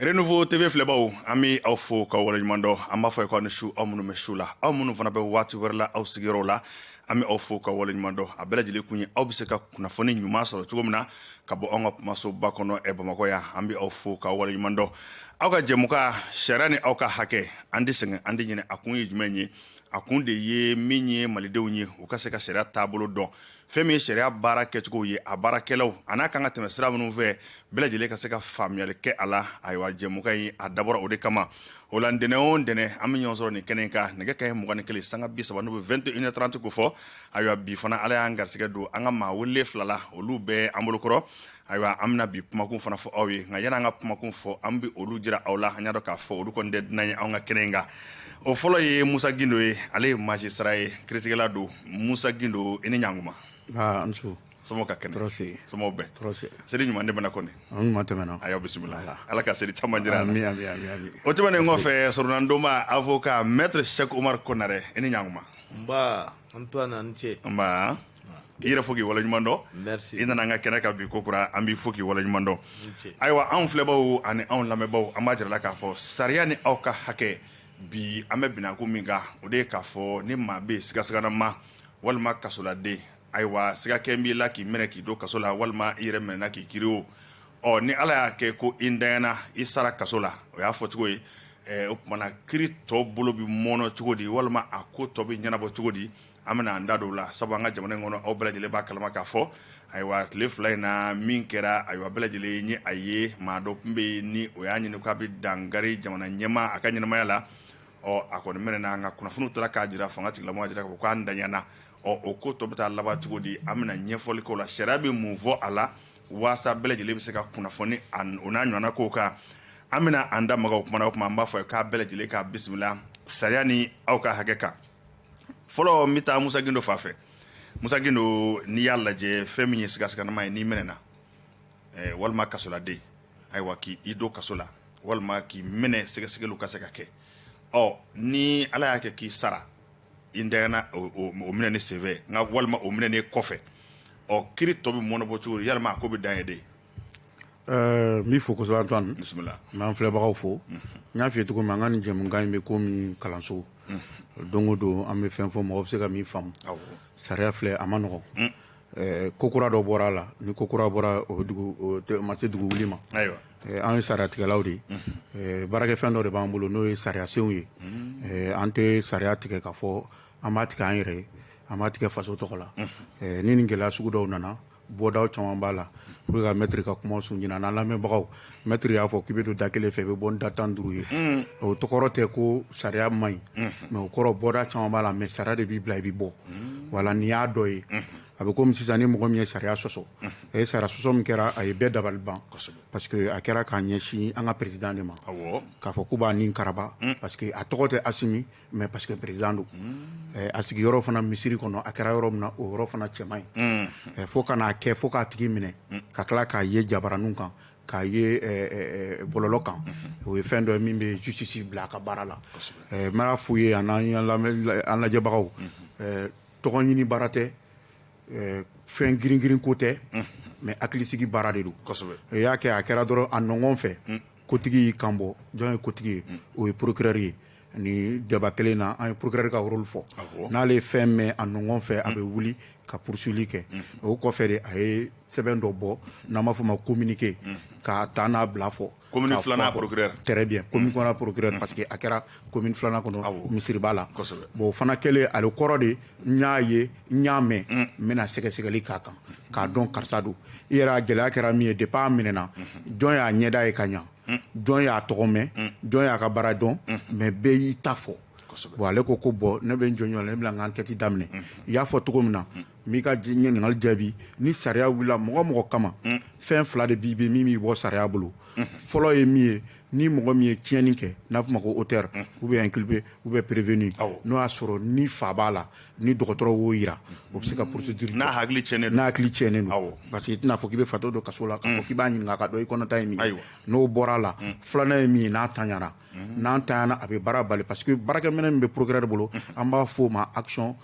Renouveau TV filɛbaaw an bɛ aw fo k'aw waleɲuman dɔn an b'a fɔ aw ni su aw minnu bɛ su la aw minnu fana bɛ waati wɛrɛ la aw sigiyɔrɔ la an bɛ aw fo k'aw waleɲuman dɔn a bɛɛ lajɛlen kun ye aw bɛ se ka kunnafoni ɲuman sɔrɔ cogo min na ka bɔ an ka kumasoba kɔnɔ ɛ bamakɔ yan an bɛ aw fo k'aw waleɲuman dɔn aw ka jɛmukan sariya ni aw ka hakɛ an tɛ sɛgɛn an tɛ ɲinɛ a kun ye jumɛn ye a kun de ye min ye malidenw ye u ka se ka sariya taabolo dɔn fɛn min ye sariya baara kɛcogo ye a baarakɛlaw a n'a kan ka tɛmɛ sira minnu fɛ bɛɛ lajɛlen ka se ka faamuyali kɛ a la ayiwa jɛmukan in a dabɔra o de kama o la ntɛnɛn o ntɛnɛn an bɛ ɲɔgɔn sɔrɔ nin kɛnɛ kan nɛgɛ kanɲɛ mugan ni kelen sanga bi saba n'u bɛ 21h30 ko fɔ ayiwa bi fana ala y'an garisigɛ don an ka maa wele fila la olu bɛ an bolokɔrɔ Ayiwa an bɛna bi kumakun fana fɔ aw ye nka yanni an ka kumakun fɔ an bɛ olu jira aw la an y'a dɔn k'a fɔ olu kɔni tɛ dunan ye an ka kɛnɛ in kan o fɔlɔ ye musa gindo ye ale ye magistrat ye kiritigɛla don musa gindo i ni ɲankuma somɔgɔw ka kɛnɛ tɔɔrɔ si somɔgɔw bɛɛ tɔɔrɔ si seli ɲuman tɛmɛna kɔni a ɲuman tɛmɛna a y'aw bisimila ala ka seli caman jira amiina o tɛmɛnen kɔfɛ soronadonna avocat maître Cheick Oumar Konaré i ni ɲankuma nba Antoine i ni ce nba i yɛrɛ fo k'i waleɲuman dɔn Merci. i nana an ka kɛnɛ kan bi ko kura an b'i fo k'i waleɲuman dɔn ce. ayiwa anw filɛbaaw ani anw lamɛnbaaw an b'a jira aw la k'a fɔ sariya ni aw ka hakɛ bi an bɛ bin a ko min kan o de ye k'a fɔ ni maa bɛ yen sigasiganama walima kasoladen ayiwa sigakɛ b'i la k'i minɛ k'i don kaso la walima i yɛrɛ minɛna k'i kiri o ɔ ni ala y'a kɛ ko i ntanyana i sara kaso la o y'a fɔcogo ye Eh, o tuma na kiri tɔ bolo bɛ mɔɔnɔ cogo di walima a ko tɔ bɛ ɲɛnabɔ cogo di an bɛna an da don o la sabu an ka jamana in kɔnɔ aw bɛɛ lajɛlen b'a kalama k'a fɔ ayiwa tile fila in na min kɛra ayiwa bɛɛ lajɛlen ye a ye maa dɔ tun bɛ yen ni o y'a ɲini k'a bɛ dankari jamana ɲɛmaa a ka ɲɛnamaya la ɔ a kɔni minɛna an ka kunnafoniw taara k'a jira fanga tigilamɔgɔw y'a jira ko k'a ntanyana ɔ o ko tɔ bɛ taa laban cogo di an bɛna ɲɛfɔli k'o la sariya bɛ mun fɔ a la waasa bɛɛ lajɛlen bɛ se ka kunnafoni a n- o n'a ɲɔgɔnna kow kan an bɛna an da maga o kuma na o tuma an b'a fɔ k'a bɛɛ lajɛlen k'a bisimila sariya ni aw ka hakɛ kan fɔlɔ n bɛ taa musa gindo fan fɛ musa gindo n'i y'a lajɛ fɛn min ye sigasiganama ye n'i minɛna eh, walima kasoladen ayiwa k'i i don kaso la walima k'i minɛ sɛgɛsɛgɛliw ka se ka kɛ ɔ ni ala y'a kɛ k'i sara i ntanyana o o- o minɛni senfɛ nka walima o minɛni kɔfɛ ɔ kiri tɔ bɛ mɔɔnɔbɔ cogo di yalima a ko bɛ dan yen de Ɛɛ n b'i fo kosɛbɛ Antoine bisimila n b'an filɛbagaw fo n y'a f'i ye cogo min an ka nin jɛmukan in bɛ komi kalanso don o don an bɛ fɛn fɔ mɔgɔ bɛ se ka min faamu sariya filɛ a man nɔgɔn ɛɛ ko kura dɔ bɔra a la ni ko kura bɔra o dugu ma se dugu wuli ma an ye sariyatigɛlaw de ye baarakɛfɛn dɔ de b'an bolo n'o ye sariyasenw ye an tɛ sariya tigɛ k'a fɔ an b'a tigɛ an yɛrɛ ye an b'a tigɛ faso tɔgɔ la ni nin gɛlɛya sugu dɔw nana bɔda caman b'a la pour que mɛtri ka kuma sun ɲin n'an lamɛnbagaw mɛtri y'a fɔ k'i bɛ don da kelen fɛ i bɛ bɔ ni da tan ni duuru ye o kɔrɔ tɛ ko sariya man ɲi mais o kɔrɔ bɔda caman b'a la mais sariya de b'i bila i bɛ bɔ wala n'i y'a dɔ ye a bɛ komi sisan ni mɔgɔ min ye sariya sɔsɔ a ye sariya sɔsɔ min kɛra a ye bɛɛ dabali ban parce que a kɛra k'a ɲɛsin an ka président de ma k'a fɔ k'u b'a ni karaba parce que a tɔgɔ tɛ Asimi mais parce que président don eh, a sigiyɔrɔ fana misiri kɔnɔ a kɛra yɔrɔ min na o yɔrɔ fana cɛ man ɲi mm. eh, fo ka n'a kɛ fo k'a tigi minɛ mm. ka tila k'a ye jabaraninw kan k'a ye eh, bɔlɔlɔ kan mm-hmm. o ye fɛn dɔ min bɛ justice bila a ka baara la n b'a f'u ye an lajɛbagaw mm-hmm. tɔgɔ ɲini baara tɛ fɛn giringirin ko tɛ mm-hmm. mais hakilisigi baara de don i y'a kɛ a kɛra dɔrɔn a nɔgɔn fɛ kotigi y'i kanbɔ jɔn ye kotigi ye o ye procureur ye ni débat kelen na an ye procureur ka rôle fɔ n'ale ye fɛn mɛn a nɔgɔn fɛ a bɛ wuli ka poursuivre kɛ o kɔfɛ de a ye sɛbɛn dɔ bɔ n'an b'a fɔ ma communiqué ka taa n'a bila fɔ très bien procureur parce que a kɛra commune filanan kɔnɔ misiriba la bon o fana kɛlen ale kɔrɔ de n y'a ye n y'a mɛn n bɛna sɛgɛsɛgɛli k'a kan k'a dɔn karisa don i yɛrɛ a gɛlɛya kɛra min ye depuis a minɛna jɔn y'a ɲɛda ye ka ɲɛ jɔn y'a tɔgɔ mɛn jɔn y'a ka baara dɔn mais bɛɛ y'i ta fɔ bon ale ko ko bon ne bɛ n jɔn ne bɛna n ka enquête daminɛ i y'a fɔ cogo min na n b'i ka ɲininkali jaabi ni sariya wilila mɔgɔ mɔgɔ kama fɛn fila de b'i bɛ min b'i bɔ sariya bolo fɔlɔ ye min ye ni mɔgɔ min ye tiɲɛni kɛ n'a fɔ ma ko auteur ou bien inculpé ou bien prévenu n'o y'a sɔrɔ ni fa b'a la ni dɔgɔtɔrɔ wo jira o bɛ se ka porosi duuru n'a hakili ti n'a hakili ti ne parce que tɛna fɔ k' bɛ fato don kaso la k' b'a ɲini ka i kɔnɔta in ayiwa n'o bɔra a la filanan ye min ye n'a tanyara n'an ta a bɛ baara bali pa que baarakɛ minɛ min bɛ poroɛrɛ de bolo an b'a fɔ oo ma asɔn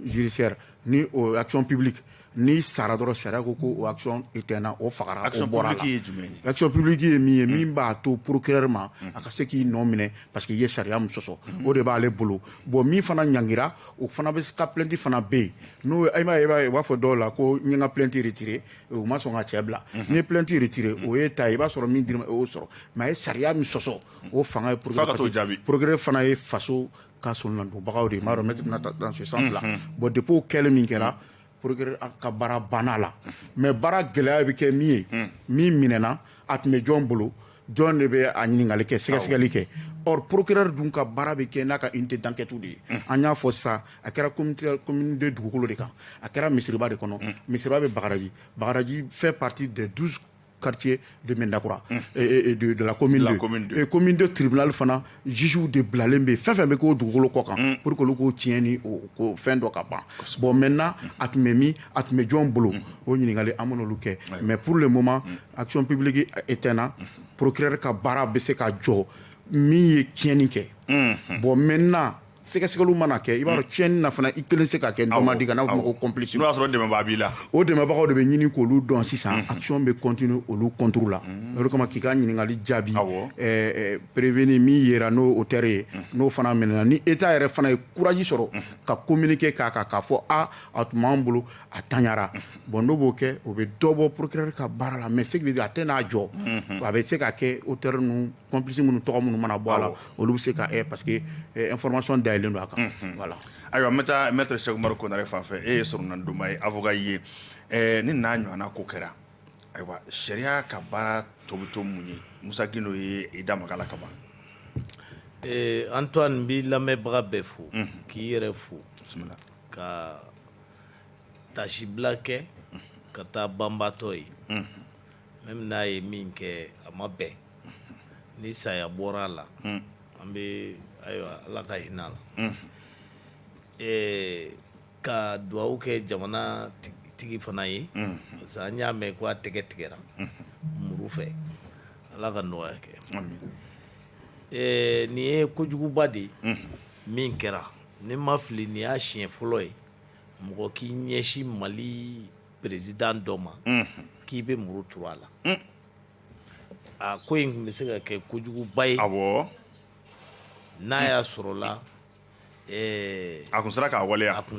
zsɛ ni asɔnɔnpbi n'i sara dɔrɔn sariya ko ko o action éteinna o fagara o bɔra a la action publique ye jumɛn ye action publique ye min ye min b'a to procureur ma a ka se k'i nɔ minɛ parce que i ye sariya min sɔsɔ o de b'ale bolo bon min fana ɲangira o fana bɛ ka plainte fana bɛ yen n'o i b'a ye i b'a ye u b'a fɔ dɔw la ko n ye n ka plainte retirer u ma sɔn ka cɛ bila n'i ye plainte retirer o y'i ta ye i b'a sɔrɔ min dir'i ma o y'o sɔrɔ mais a ye sariya min sɔsɔ o fanga ye procureur fana ye faso ka soronadonbagaw de b'a dɔn ne tɛna taa dans ce sens là bon depuis o kɛlen min kɛra procureur ka baara banna la mais baara gɛlɛya bɛ kɛ min ye min minɛɛna a tun bɛ jɔn bolo jɔn de bɛ a ɲininkakali kɛ sɛgɛsɛgɛli kɛ or procureur dun ka baara bɛ kɛ n'a ka unité d'enquête de ye an y'a fɔ sisan a kɛra commune de dugukolo de kan a kɛra misiriba de kɔnɔ misiriba bɛ Bagadaji Bagadaji fait partie des 12 quartiers de Medinakura mm. et, et, et de, de la commune la 2 commune 2 et commune 2 tribunal fana juges de bilalen bɛ fɛn fɛn bɛ k'o dugukolo kɔ kan mm. pour que olu k'o tiɲɛ ni o ko fɛn dɔ ka ban bon maintenant mm. a tun bɛ min a tun bɛ jɔn bolo mm. o ɲininkali an bɛn'olu kɛ mais pour le moment mm. action publique éteina mm. procureur ka baara bɛ se ka jɔ min ye tiɲɛni kɛ mm. bon maintenant sɛgɛsɛgɛli mana kɛ i b'a dɔn tiɲɛni na fana i kelen se ka kɛ nɔma di ka n'a fɔ ko complice n'o y'a sɔrɔ dɛmɛbaa b'i la o dɛmɛbagaw de bɛ ɲini k'olu dɔn sisan action bɛ continuer olu contre la o kama k'i ka ɲininkali jaabi prévenu min yera n'o auteur ye n'o fana minɛna ni État yɛrɛ fana ye courage sɔrɔ ka communiqué k'a kan k'a fɔ a a tun b'an bolo a tanyara bon n'o b'o kɛ o bɛ dɔ bɔ procureur ka baara la mais ce qui veut dire a tɛ n'a jɔ a bɛ se ka kɛ auteur ninnu complice minnu tɔgɔ minnu mana bɔ a la olu bɛ se ka parce que information dayɛlɛlen don a kan voilà ayiwa n bɛ taa maître Cheick Oumar Konaré fan fɛ e ye soronadonba ye avocat ye ni n'a ɲɔgɔnna ko kɛra ayiwa sariya ka baara tɔ bɛ to mun ye Musa Gindo ye i da maga a la kaban Antoine n b'i lamɛnbaga bɛɛ fo k'i yɛrɛ fo ka tasibila kɛ ka taa banbatɔ ye Même n'a ye min kɛ a ma bɛn ni saya bɔra a la an bɛ ayiwa ala ka hinɛ a la ka dugawu kɛ jamana tigi fana ye parce que an y'a mɛn ko a tɛgɛ tigɛra muru fɛ ala ka nɔgɔya kɛ nin ye kojuguba de ye min kɛra ni n ma fili nin y'a siɲɛ fɔlɔ ye mɔgɔ k'i ɲɛsin Mali président dɔ ma k'i bɛ muru turu a la a ko in tun bɛ se ka kɛ kojuguba ye n'a y'a sɔrɔ la a kun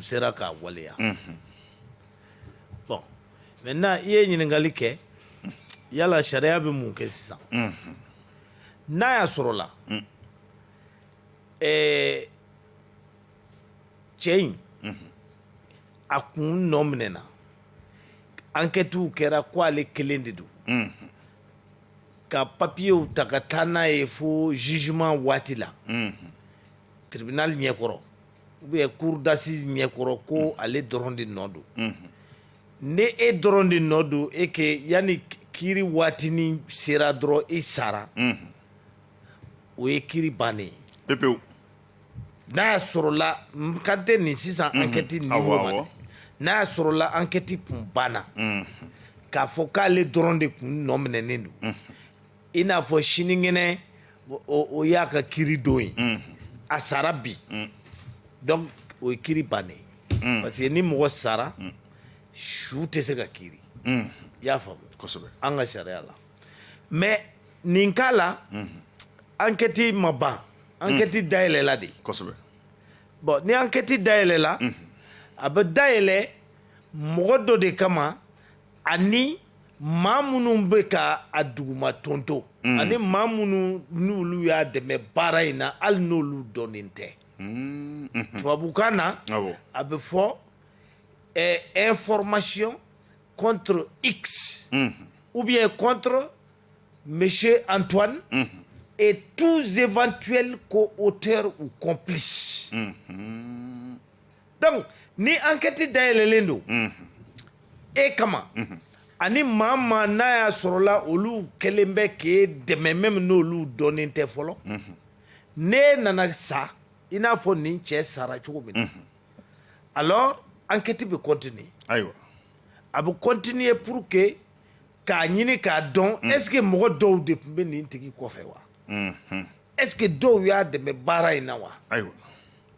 sera k'a waleya bon maintenant i ye ɲininkali kɛ yala sariya bɛ mun kɛ sisan n'a y'a sɔrɔ la cɛ in a kun nɔ minɛna enquêtew kɛra ko ale kelen de don ka papiyew ta ka taa n'a ye fo jugement waati la tribunal ɲɛkɔrɔ ou bien cour d'assise ɲɛkɔrɔ ko ale dɔrɔn de nɔ don ni e dɔrɔn de nɔ don e ke yanni kiri waatini sera dɔrɔn i sara o ye kiri bannen ye pepewu n'a y'a sɔrɔla kante nin sisan ankɛti niveau ma n'a y'a sɔrɔla ankɛti kun banna k'a fɔ k'ale dɔrɔn de tun nɔ minɛnen don i n'a fɔ sinikɛnɛ o y'a ka kiri don ye a sara bi donc o ye kiri bannen parce que ni mɔgɔ sara su tɛ se ka kiri i y'a faamu an ka sariya la mais nin cas la ankɛti ma ban ankɛti dayɛlɛla de kosɛbɛ bon ni ankɛti dayɛlɛla a bɛ dayɛlɛ mɔgɔ dɔ de kama ani maa minnu bɛ ka a duguma tonto ani maa minnu n'olu y'a dɛmɛ baara in na hali n'olu dɔnnen tɛ tubabukan na a bɛ fɔ ɛɛ information contre X mhm. ou bien contre Monsieur Antoine mhm. et tous éventuels co-auteurs ou complices. Mhm. Donc, ni enquête dayɛlɛlen don e kama ani maa maa n'a y'a sɔrɔla olu kɛlen bɛ k'e dɛmɛ même n'olu dɔnnen tɛ fɔlɔ n'e nana sa i n'a fɔ nin cɛ sara cogo min na alors enquête bɛ continuer ayiwa a bɛ continuer pour que k'a ɲini k'a dɔn mm. est ce que mɔgɔ dɔw de tun bɛ nin tigi kɔfɛ wa mm -hmm. est ce que dɔw y'a dɛmɛ baara in na wa ayiwa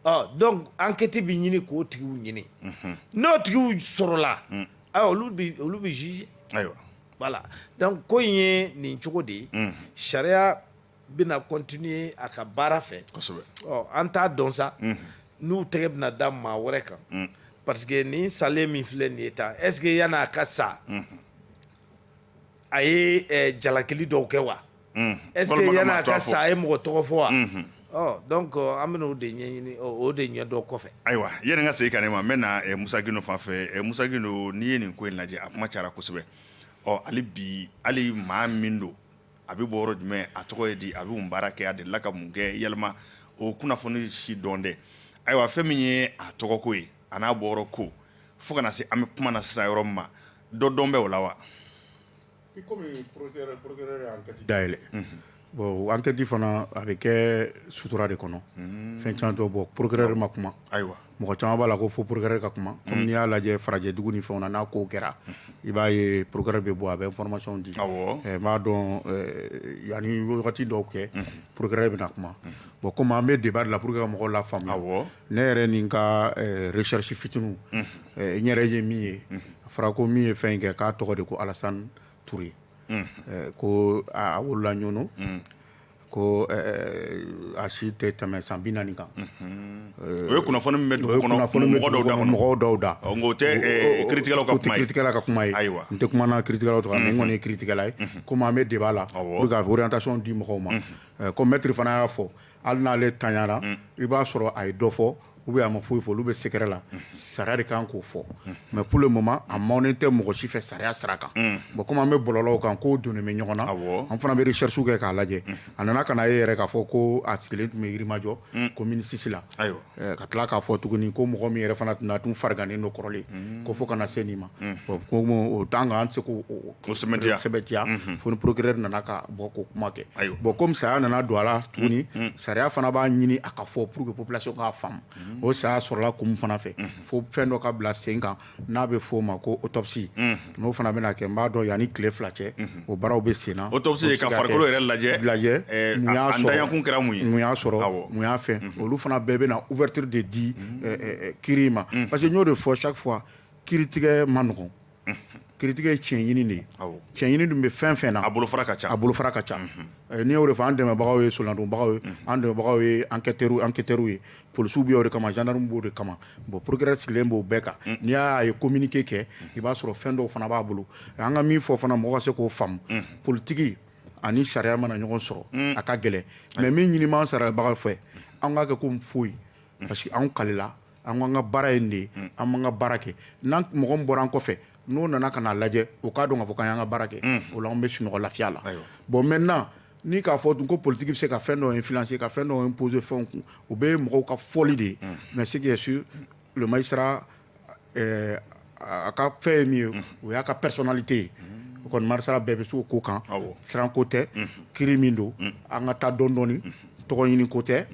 ɔ donc enquête bɛ ɲini k'o tigiw ɲini mm -hmm. n'o tigiw sɔrɔla mm. ayiwa olu bɛ olu bɛ juger ayiwa voilà donc ko in ye nin cogo de ye mm. sariya bɛna continuer a ka baara fɛ, kosɛbɛ, ɔ an t'a dɔn sa n'u tɛgɛ bɛna da maa wɛrɛ kan parce que nin salen min filɛ nin ye tan est ce que yani a ka sa a ye jalakili dɔw kɛ wa est ce que yani a ka sa a ye mɔgɔ tɔgɔ fɔ wa ɔ donc an bɛna o de ɲɛɲini o de ɲɛdɔn kɔfɛ ayiwa yani n ka segin ka n'e ma n bɛ na Musa Gindo fan fɛ Musa Gindo n'i ye nin ko in lajɛ a kuma cayara kosɛbɛ ɔ hali bi hali maa min don a bɛ bɔ yɔrɔ jumɛn a tɔgɔ ye di a bɛ mun baara kɛ a delila ka mun kɛ jama ma o kunnafoni si dɔn dɛ ayiwa fɛn min ye a tɔgɔko ye a n'a bɔyɔrɔ ko fo ka na se an bɛ kuma na sisan yɔrɔ min ma dɔ dɔn bɛ o la wa i komi procureur ye enquête dayɛlɛ bon enquête de fana a bɛ kɛ sutura de kɔnɔ fɛn caman tɛ bɔ procureur ma kuma ayiwa mɔgɔ caman b'a la ko fo procureur ka kuma comme n'i y'a lajɛ farajɛdugu ni fɛn na n'a ko kɛra mm. i b'a ye procureur bɛ bɔ a bɛ information di eh, n b'a dɔn eh, yani wagati dɔw cɛ mm. procureur bɛna kuma bon komi an bɛ débat de la pour que ka mɔgɔw lafaamuya ne yɛrɛ ni n ka eh, recherche fitinin n yɛrɛ ye min ye a fɔra ko min ye fɛn in kɛ k'a tɔgɔ de ko Alasan Ture ko a wolola Ɲɔnɔ Ko a si tɛ tɛmɛ san bi naani kan o ye kunnafoni min bɛ dugu kɔnɔ mɔgɔw dɔw da o tɛ kiritigɛlaw ka kuma ye ayiwa n tɛ kuma na kiritigɛlaw tɔgɔ la mais n kɔni kiritigɛla ye comme an bɛ débat la pour orientation di mɔgɔw ma comme maître fana y'a fɔ hali n'ale tanyara i b'a sɔrɔ a ye dɔ fɔ ou bien a ma foyi fɔ olu bɛ secret la sariya de kan k'o fɔ mais pour le moment a mɛnnen tɛ mɔgɔ si fɛ sariya sira kan bon kɔmi an bɛ bɔlɔlɔw kan ko donnen bɛ ɲɔgɔn na an fana bɛ recherche kɛ k'a lajɛ a nana ka na ye yɛrɛ k'a fɔ ko a sigilen tun bɛ yirimajɔ commune six la ka tila k'a fɔ tuguni ko mɔgɔ min yɛrɛ fana tun fariganen don kɔrɔlen ko fo ka na se nin ma ko o temps kan an tɛ se k' O sɛmɛntiya o sɛmɛntiya unhun fo ni procureur nana ka bɔ k'o kuma kɛ ayiwa bon comme saya nana don a la tuguni un un sariya fana b'a ɲini a ka fɔ pour que population k'a faamu unhun o saya sɔrɔla kun min fana fɛ unhun fo fɛn dɔ ka bila sen kan n'a bɛ f'o ma ko autopsie unhun n'o fana bɛna kɛ n b'a dɔn yani tile fila cɛ unhun o baaraw bɛ sen na autopsie ye ka farikolo yɛrɛ lajɛ lajɛ ɛɛ mun y'a sɔrɔ a ntanyakun kɛra mun ye mun y'a sɔrɔ awɔ mun y'a fɛn unhun olu fana bɛɛ bɛna ouverture de di unhun ɛɛ ɛɛ kiri in ma unhun parce que n y'o de fɔ chaque fois kiritigɛ man nɔgɔn kiritigɛ ye tiɲɛɲini de ye tiɲɛɲini dun bɛ fɛn fɛn na a bolo ka ca a bolofara ka ca n'i y'o fɔ an dɛmɛbagaw ye soladonbagaw ye an dɛmɛbagaw ye enquêteurw ye polisiw b'o de kama gendarme b'o de kama bon procureur sigilen b'o bɛɛ kan n'i y'a ye communiqué kɛ i b'a sɔrɔ fɛn dɔw fana b'a bolo an ka min fɔ fana mɔgɔ ka se k'o faamu politigi ani sariya mana ɲɔgɔn sɔrɔ a ka gɛlɛn mais min ɲininen sariyabagaw fɛ an k'a kɛ ko foyi parce que an kalila an k'an ka baara ye nin de an b'an ka baara kɛ n'an mɔgɔ min bɔra an kɔfɛ n'o nana ka n'a lajɛ o k'a dɔn k'a fɔ k'an y'an ka baara kɛ o la an bɛ sunɔgɔ lafiya la bon maintenant ni k'a fɔ dun ko politigi bɛ se ka fɛn dɔ influencer ka fɛn dɔ imposer fɛnw kun o bɛɛ mɔgɔw ka fɔli de ye mais ce qui est sûr le magistrat A ka fɛn ye min ye o y'a ka personnalité ye o kɔni magistrat bɛɛ bɛ se o ko kan siranko tɛ kiri min don an ka taa dɔɔni dɔɔni tɔgɔ ɲini ko tɛ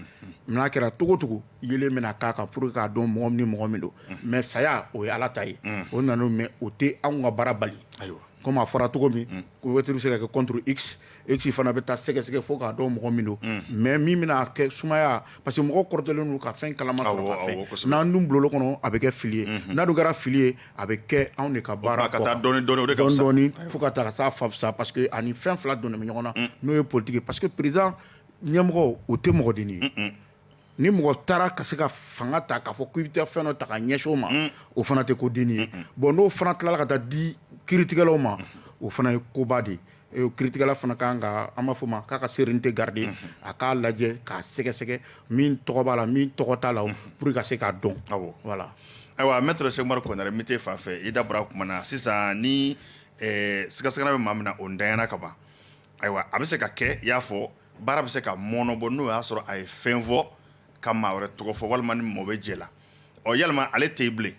n'a kɛra cogo o cogo yeelen bɛna k'a kan pour k'a dɔn mɔgɔ ni mɔgɔ min don mais saya o ye ala ta ye o nana mais o tɛ anw ka baara bali ayiwa comme a fɔra cogo min Kiri bɛ se ka kɛ contre X X fana bɛ taa sɛgɛsɛgɛ fo k'a dɔn mɔgɔ min don mais min bɛna a kɛ sumaya parce que mɔgɔ kɔrɔtɔlen don ka fɛn kalaman sɔrɔ ka fɛn n'an dun bolila o kɔnɔ a bɛ kɛ fili ye n'a dun kɛra fili ye a bɛ kɛ anw de ka baara ka taa dɔɔni dɔɔni fo ka taa sa fasa parce que ani fɛn fila donnen bɛ ɲɔgɔn na n'o ye politigi ye parce que président ɲɛmɔgɔ o tɛ mɔgɔ dennin ye ni mɔgɔ taara ka se ka fanga ta k'a fɔ ko i bɛ taa fɛn dɔ ta ka ɲɛsin o ma o fana tɛ ko dennin ye bon n'o fana tilala ka taa di kiritigɛlaw ma o fana ye koba de ye kiritigɛla fana ka kan ka an b'a fɔ ma k'a ka sérénité garder a k'a lajɛ k'a sɛgɛsɛgɛ min tɔgɔ b'a la min tɔgɔ t'a la pour ka se k'a dɔn voilà ayiwa maître Cheick Oumar Konaré n bɛ t'e fan fɛ i da bɔra kuma na sisan ni sigasiga bɛ maa min na o ntanyana kaban Ayiwa a bɛ se ka kɛ i y'a fɔ baara bɛ se ka mɔnɔbɔ n'o y'a sɔrɔ a ye fɛn fɔ ka maa wɛrɛ tɔgɔ fɔ walima ni maa bɛ jɛ la ɔ yalima ale tɛ yen bilen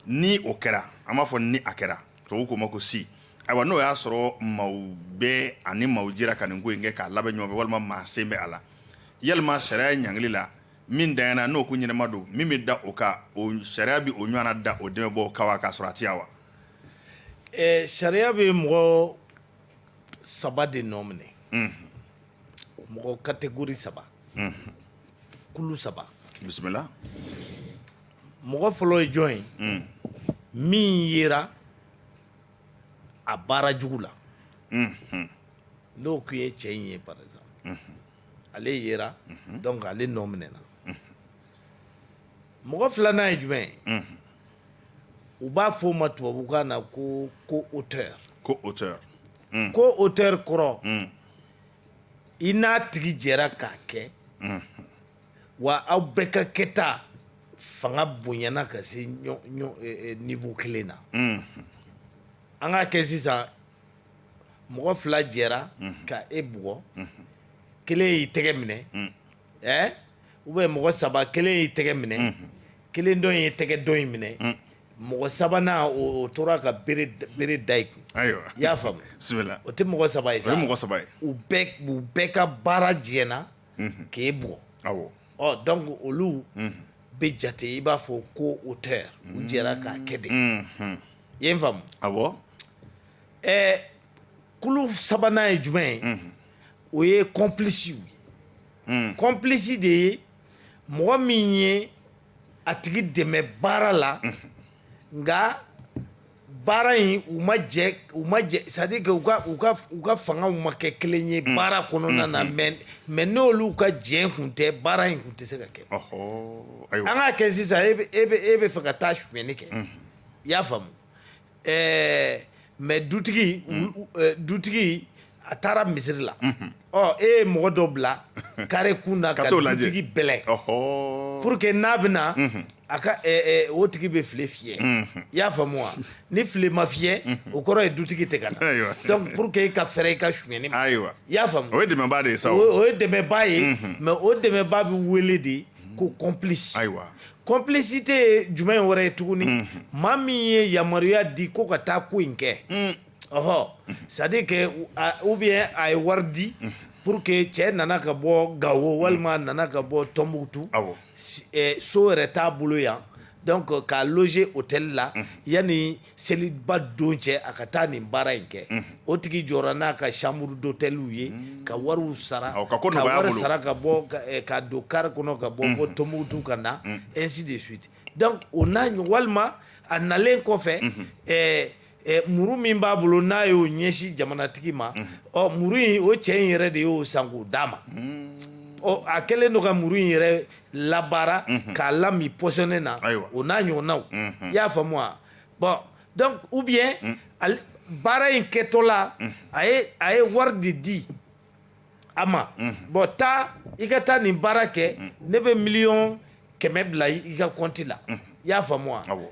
ni o kɛra an b'a fɔ ni a kɛra to ko ma ko si ayiwa n'o y'a sɔrɔ maaw bɛɛ ani maaw jɛra ka nin ko in kɛ k'a labɛn ɲɔgɔn fɛ walima maa sen bɛ a la yalima sariya ye ɲangili la min danyana n'o ko ɲɛnama don min bɛ da o kan o sariya bɛ o ɲɔgɔnna da o dɛmɛbaa kan k'a sɔrɔ a tɛ yan wa sariya bɛ mɔgɔ saba de nɔ minɛ mɔgɔ catégorie saba kulu saba bisimila mɔgɔ fɔlɔ ye jɔn ye min yera a baara jugu la n'o tun ye cɛ in ye par exemple ale yera donc ale nɔ minɛna mɔgɔ filanan ye jumɛn ye u b'a fɔ o ma tubabukan na ko co-auteur co-auteur co-auteur kɔrɔ i n'a tigi jɛra k'a kɛ wa aw bɛɛ ka kɛta fanga bonyana ka se niveau kelen na an k'a kɛ sisan mɔgɔ fila jɛra ka e bugɔ kelen y'i tɛgɛ minɛ ɛɛ ou bien mɔgɔ saba kelen y'i tɛgɛ minɛ kelen dɔ ye tɛgɛ dɔ in minɛ mɔgɔ sabanan o tora ka bere da i kun i y'a faamu o tɛ mɔgɔ saba ye sa u bɛɛ ka baara jɛra k'e bugɔ ɔ donc olu bɛ jate i b'a fɔ co-auteur u jɛra k'a kɛ de i ye n faamu wa ɛɛ kulu sabanan ye jumɛn ye o ye complice ye hmm. complice de ye mɔgɔ min ye a tigi dɛmɛ baara la hmm. nka baara in u ma jɛ u ma jɛ c'est à dire que u ka u ka u ka fangaw ma kɛ kelen ye hmm. baara kɔnɔna na mais mais n'olu ka jɛ kun tɛ baara in kun tɛ se ka kɛ an k'a kɛ sisan e bɛ e bɛ e bɛ fɛ ka taa sonyɛni kɛ i y'a faamu ɛɛ mais dutigi dutigi a taara misiri la ɔ e ye mɔgɔ dɔ bila carré kun na ka dutigi bɛlɛn pour que n'a bɛ na a ka o tigi bɛ file fiyɛ i y'a faamu wa ni file ma fiyɛ o kɔrɔ ye dutigi tɛ ka na donc pour que e ka fɛrɛ i ka sonyɛni ma i y'a faamu o ye dɛmɛba de ye sa o ye dɛmɛba ye mais o dɛmɛba bɛ wele de ko complice ayiwa complicité ye jumɛn wɛrɛ ye tuguni maa min ye yamaruya di ko ka taa ko in kɛ ɔɔ c'est à dire que ou bien a ye wari di pour que cɛ nana ka bɔ gawo walima nana ka bɔ Tombouctou so yɛrɛ t'a bolo yan donc k'a loger hôtel la yanni seliba don cɛ a ka taa nin baara in kɛ o tigi jɔra n'a ka chambre d'hôtel ye ka wari sara ka wari sara ka bɔ ka don car kɔnɔ ka bɔ fɔ Tombouctou ka na ainsi de suite donc o n'a ɲɔgɔn walima a nalen kɔfɛ muru min b'a bolo n'a y'o ɲɛsin jamanatigi ma ɔ muru in o cɛ in yɛrɛ de y'o san k'o d'a ma ɔ a kɛlen don ka muru in yɛrɛ labaara k'a lamin pɔsɔni na o n'a ɲɔgɔnnaw i y'a faamu wa bon donc ou bien baara in kɛtɔla a ye a ye wari de di a ma bon taa i ka taa nin baara kɛ ne bɛ miliyɔn kɛmɛ bila i ka kɔnti la I y'a faamu wa? Awɔ.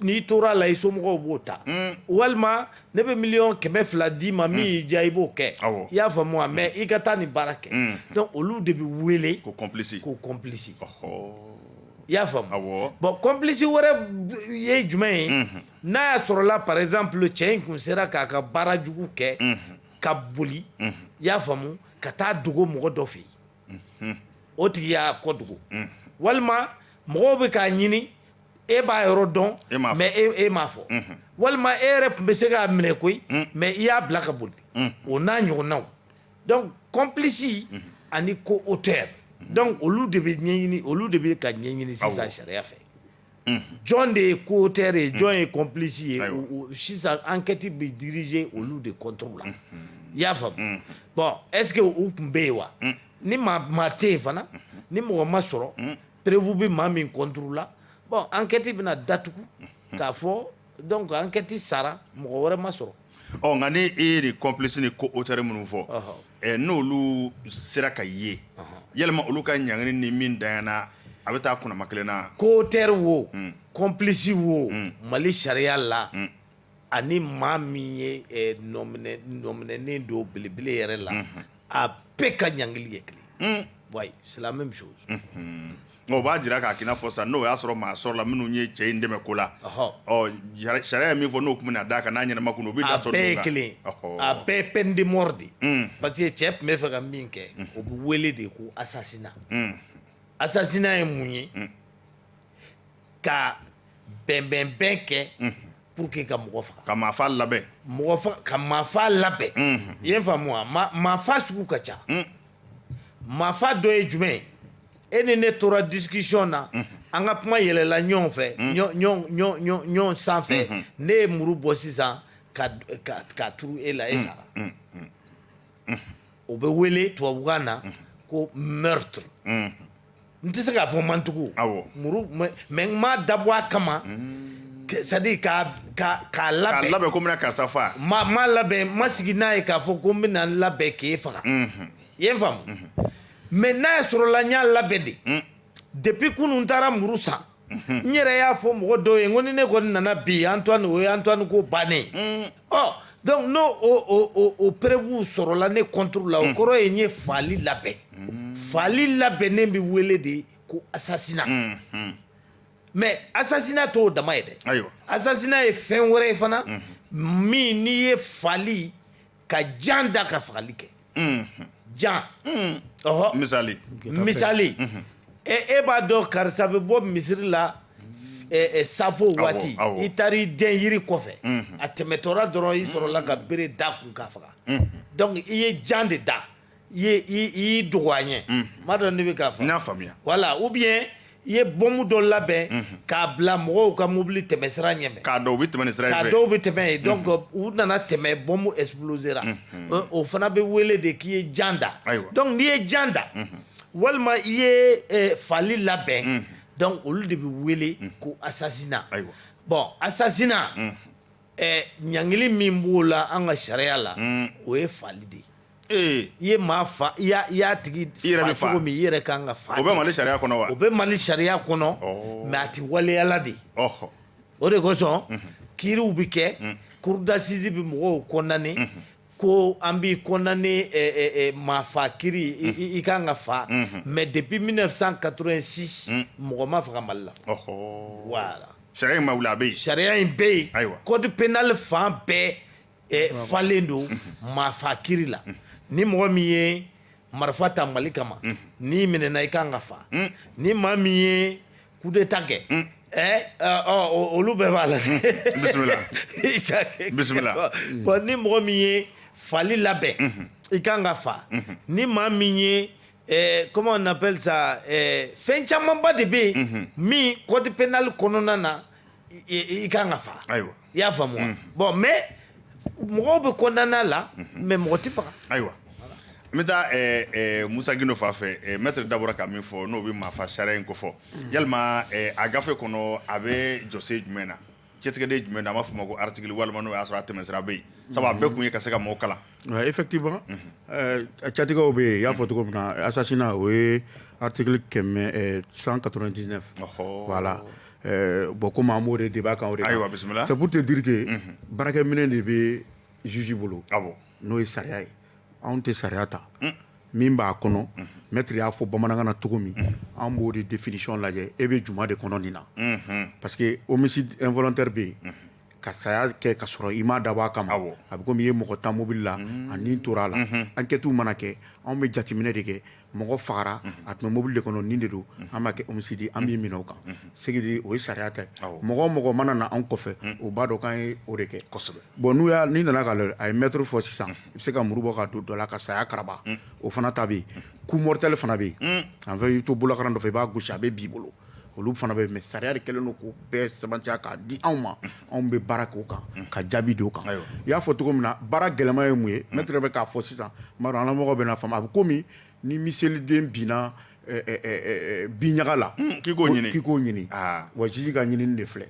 N'i tora a la i somɔgɔw b'o ta. Un! Walima ne bɛ miliyɔn kɛmɛ fila d'i ma min y'i diya i b'o kɛ. Awɔ. I y'a faamu wa? Mais i ka taa nin baara kɛ. Un! Donc olu de bɛ wele. Ko complice. Ko complice. Ɔhɔɔ! I y'a faamu. Awɔ. Bon complice wɛrɛ ye jumɛn ye. Unhun! N'a y'a sɔrɔla par exemple cɛ in tun sera k'a ka baara jugu kɛ. Unhun! Ka boli. Unhun! I y'a faamu, ka taa dogo mɔgɔ dɔ fɛ yen. o tigi y'a ko dogo walima mɔgɔw bɛ k'a ɲini e b'a yɔrɔ dɔn mais e m'a fɔ walima e yɛrɛ tun bɛ se k'a minɛ koyi mais i y'a bila ka boli o n'a ɲɔgɔnnaw donc complice ani co-auteur donc olu de bɛ ɲɛɲini olu de bɛ ka ɲɛɲini sisan sariya fɛ jɔn de ye co-auteur ye jɔn ye complice ye sisan enquête bɛ diriger olu de contre la i y'a faamu bon est-ce que u tun bɛ yen wa ni maa tɛ yen fana ni mɔgɔ ma sɔrɔ preuve bɛ maa min contre la bon enquête bɛna datugu k'a fɔ Donc enquête sara mɔgɔ wɛrɛ ma sɔrɔ ɔ nka ni e ye nin complice ni co-auteur minnu fɔ n'olu sera ka ye yalima olu ka ɲangili ni min danyana a bɛ taa kunnama kelen na co-auteur wo complice wo Mali sariya la ani maa min ye nɔminɛnen don belebele yɛrɛ la a bɛɛ ka ɲangili ye kelen ye c'est la même chose O b'a jira k'a k'i n'a fɔ sa n'o y'a sɔrɔ maa sɔrɔla minnu ye cɛ in dɛmɛ ko la sariya ye min fɔ n'o tun bɛna d'a kan n'a ɲɛnama kun don o bɛ a bɛɛ ye kelen a bɛɛ peine de mort de ye parce que cɛ tun bɛ fɛ ka min kɛ o bɛ wele de ko assassinat assassinat ye mun ye ka bɛnbɛnbɛn kɛ pour que ka mɔgɔ faga ka maafa labɛn ka maafa labɛn i y'a faamu wa maafa sugu ka ca maafa dɔ ye jumɛn ye e ni ne tora discussion na an ka kuma yɛlɛla ɲɔgɔn fɛ ɲɔgɔn sanfɛ ne ye muru bɔ sisan k'a turu e la e sara o bɛ wele tubabukan na ko meurtre n tɛ se k'a fɔ ma n tugu muru mais n m'a dabɔ a kama c'est à dire k'a k'a k'a labɛn k'a labɛn ko n bɛna karisa faga n m'a labɛn ma sigi n'a ye k'a fɔ ko n bɛna n labɛn k'e faga i ye n faamu mais n'a y'a sɔrɔla n y'a labɛn de hmm. depuis kunun n taara muru san mhm. n yɛrɛ y'a fɔ mɔgɔ dɔw ye n ko ni ne kɔni nana bi antoine o ye antoine ko bannen ɔ hmm. oh, donc n'o o preuve sɔrɔla ne contre la o hmm. kɔrɔ ye n ye faali labɛn faali labɛnnen bɛ wele de ko assassinat mais assassinat t'o dama ye dɛ assassinat ye fɛn wɛrɛ ye fana min n'i ye faali ka jan da ka fagali kɛ jan ɔhɔ misali misali e e b'a dɔn karisa bɛ bɔ misiri la safo waati i taara i dɛn yiri kɔfɛ a tɛmɛtɔla dɔrɔn i sɔrɔla ka bere da a kun k'a faga donc i ye jan de da i dogo a ɲɛ m'a dɔn ne bɛ k'a fɔ faamuya voilà ou bien i ye bɔnmu dɔ labɛn k'a bila mɔgɔw ka mobili tɛmɛ sira ɲɛ k'a dɔn u bɛ tɛmɛ sira dɔw bɛ tɛmɛ yen donc u nana tɛmɛ bɔnmu explosera o fana bɛ wele de k'i ye jan da donc n'i ye jan da walima i ye faali labɛn donc olu de bɛ wele ko assassinat ayiwa bon assassinat ɲangili min b'o la an ka sariya la o ye faali de ye i ye maa fa i y'a tigi fa cogo min i yɛrɛ ka kan ka fa o bɛ mali sariya kɔnɔ wa o bɛ mali sariya kɔnɔ mais a tɛ waleyala de o de kosɔn kiiriw bɛ kɛ cour d'assises bɛ mɔgɔw condamné ko an b'i condamné maa fa kiiri i ka kan ka fa mais depuis mille neuf cent quatre-vingt-six mɔgɔ ma faga mali la voilà sariya in ma wuli a bɛ yen sariya in bɛ yen ayiwa code pénal fan bɛɛ falen don maa fa kiiri la ni mɔgɔ min ye marifa ta mali kama n'i minɛna i kan ka fa ni maa min ye coup d'état kɛ olu bɛɛ b'a la bon ni mɔgɔ min ye faali labɛn i kan ka fa ni maa min ye comment on appelle ça fɛn camanba de bɛ yen min code pénal kɔnɔna na i ka kan ka faga ayiwa i y'a faamu mm. bon mais mɔgɔw bɛ condamner a la mais mm-hmm. mɔgɔ tɛ faga ayiwa n bɛ taa eh, eh, musa gindo fan fɛ eh, maître da bɔra ka min fɔ n'o bɛ maafa sariya in kofɔ mm. yalima a gafe kɔnɔ a bɛ jɔsen jumɛn na cɛtigɛden jumɛn na an b'a fɔ o ma ko article walima n'o y'a sɔrɔ a tɛmɛsira bɛ yen sabu a bɛɛ kun ye ka se ka mɔgɔw kalan effectivement cɛtigɛw bɛ yen i y'a fɔ cogo min na assassinat o ye article kɛmɛ 199 voilà Bon komi an b'o de débat kan ayiwa bisimila c'est pour te dire que baarakɛminɛn de bɛ juge bolo n'o ye sariya ye anw tɛ sariya ta min b'a kɔnɔ maître y'a fɔ bamanankan na cogo min an b'o de définition lajɛ e bɛ jumɛn de kɔnɔ nin na parce que homicide involontaire bɛ yen ka saya kɛ ka sɔrɔ i m'a dabɔ a kama awɔ a bɛ comme i ye mɔgɔ tan mobili la a ni tor'a la enquêtew mana kɛ anw bɛ jateminɛ de kɛ mɔgɔ fagara a tun bɛ mobili de kɔnɔ nin de don an b'a kɛ homicide ye an b'i minɛ o kan ce qui dit o ye sariya ta ye awɔ mɔgɔ o mɔgɔ mana na anw kɔfɛ u b'a dɔn k'an ye o de kɛ kɔsɛbɛ bon n'u y'a n'i nana k'a lajɛ a ye meurtre fɔ sisan i bɛ se ka muru bɔ k'a don dɔ la ka saya karaba o fana ta bɛ yen coup mortel fana bɛ yen en fait i bɛ to bolakaran dɔ fɛ i b'a gosi a bɛ bin i bolo olu fana bɛ mais sariya de kɛlen don k'o bɛɛ sɛbɛntiya k'a di anw ma anw bɛ baara k'o kan ka jaabi d'o kan i y'a fɔ cogo min na baara gɛlɛman ye mun ye maître bɛ k'a fɔ sisan n b'a dɔn an lamɔgɔw bɛn'a faamu a bɛ komi ni miseliden binna bin ɲaga la k'i k'o ɲini wa juge ka ɲinini de filɛ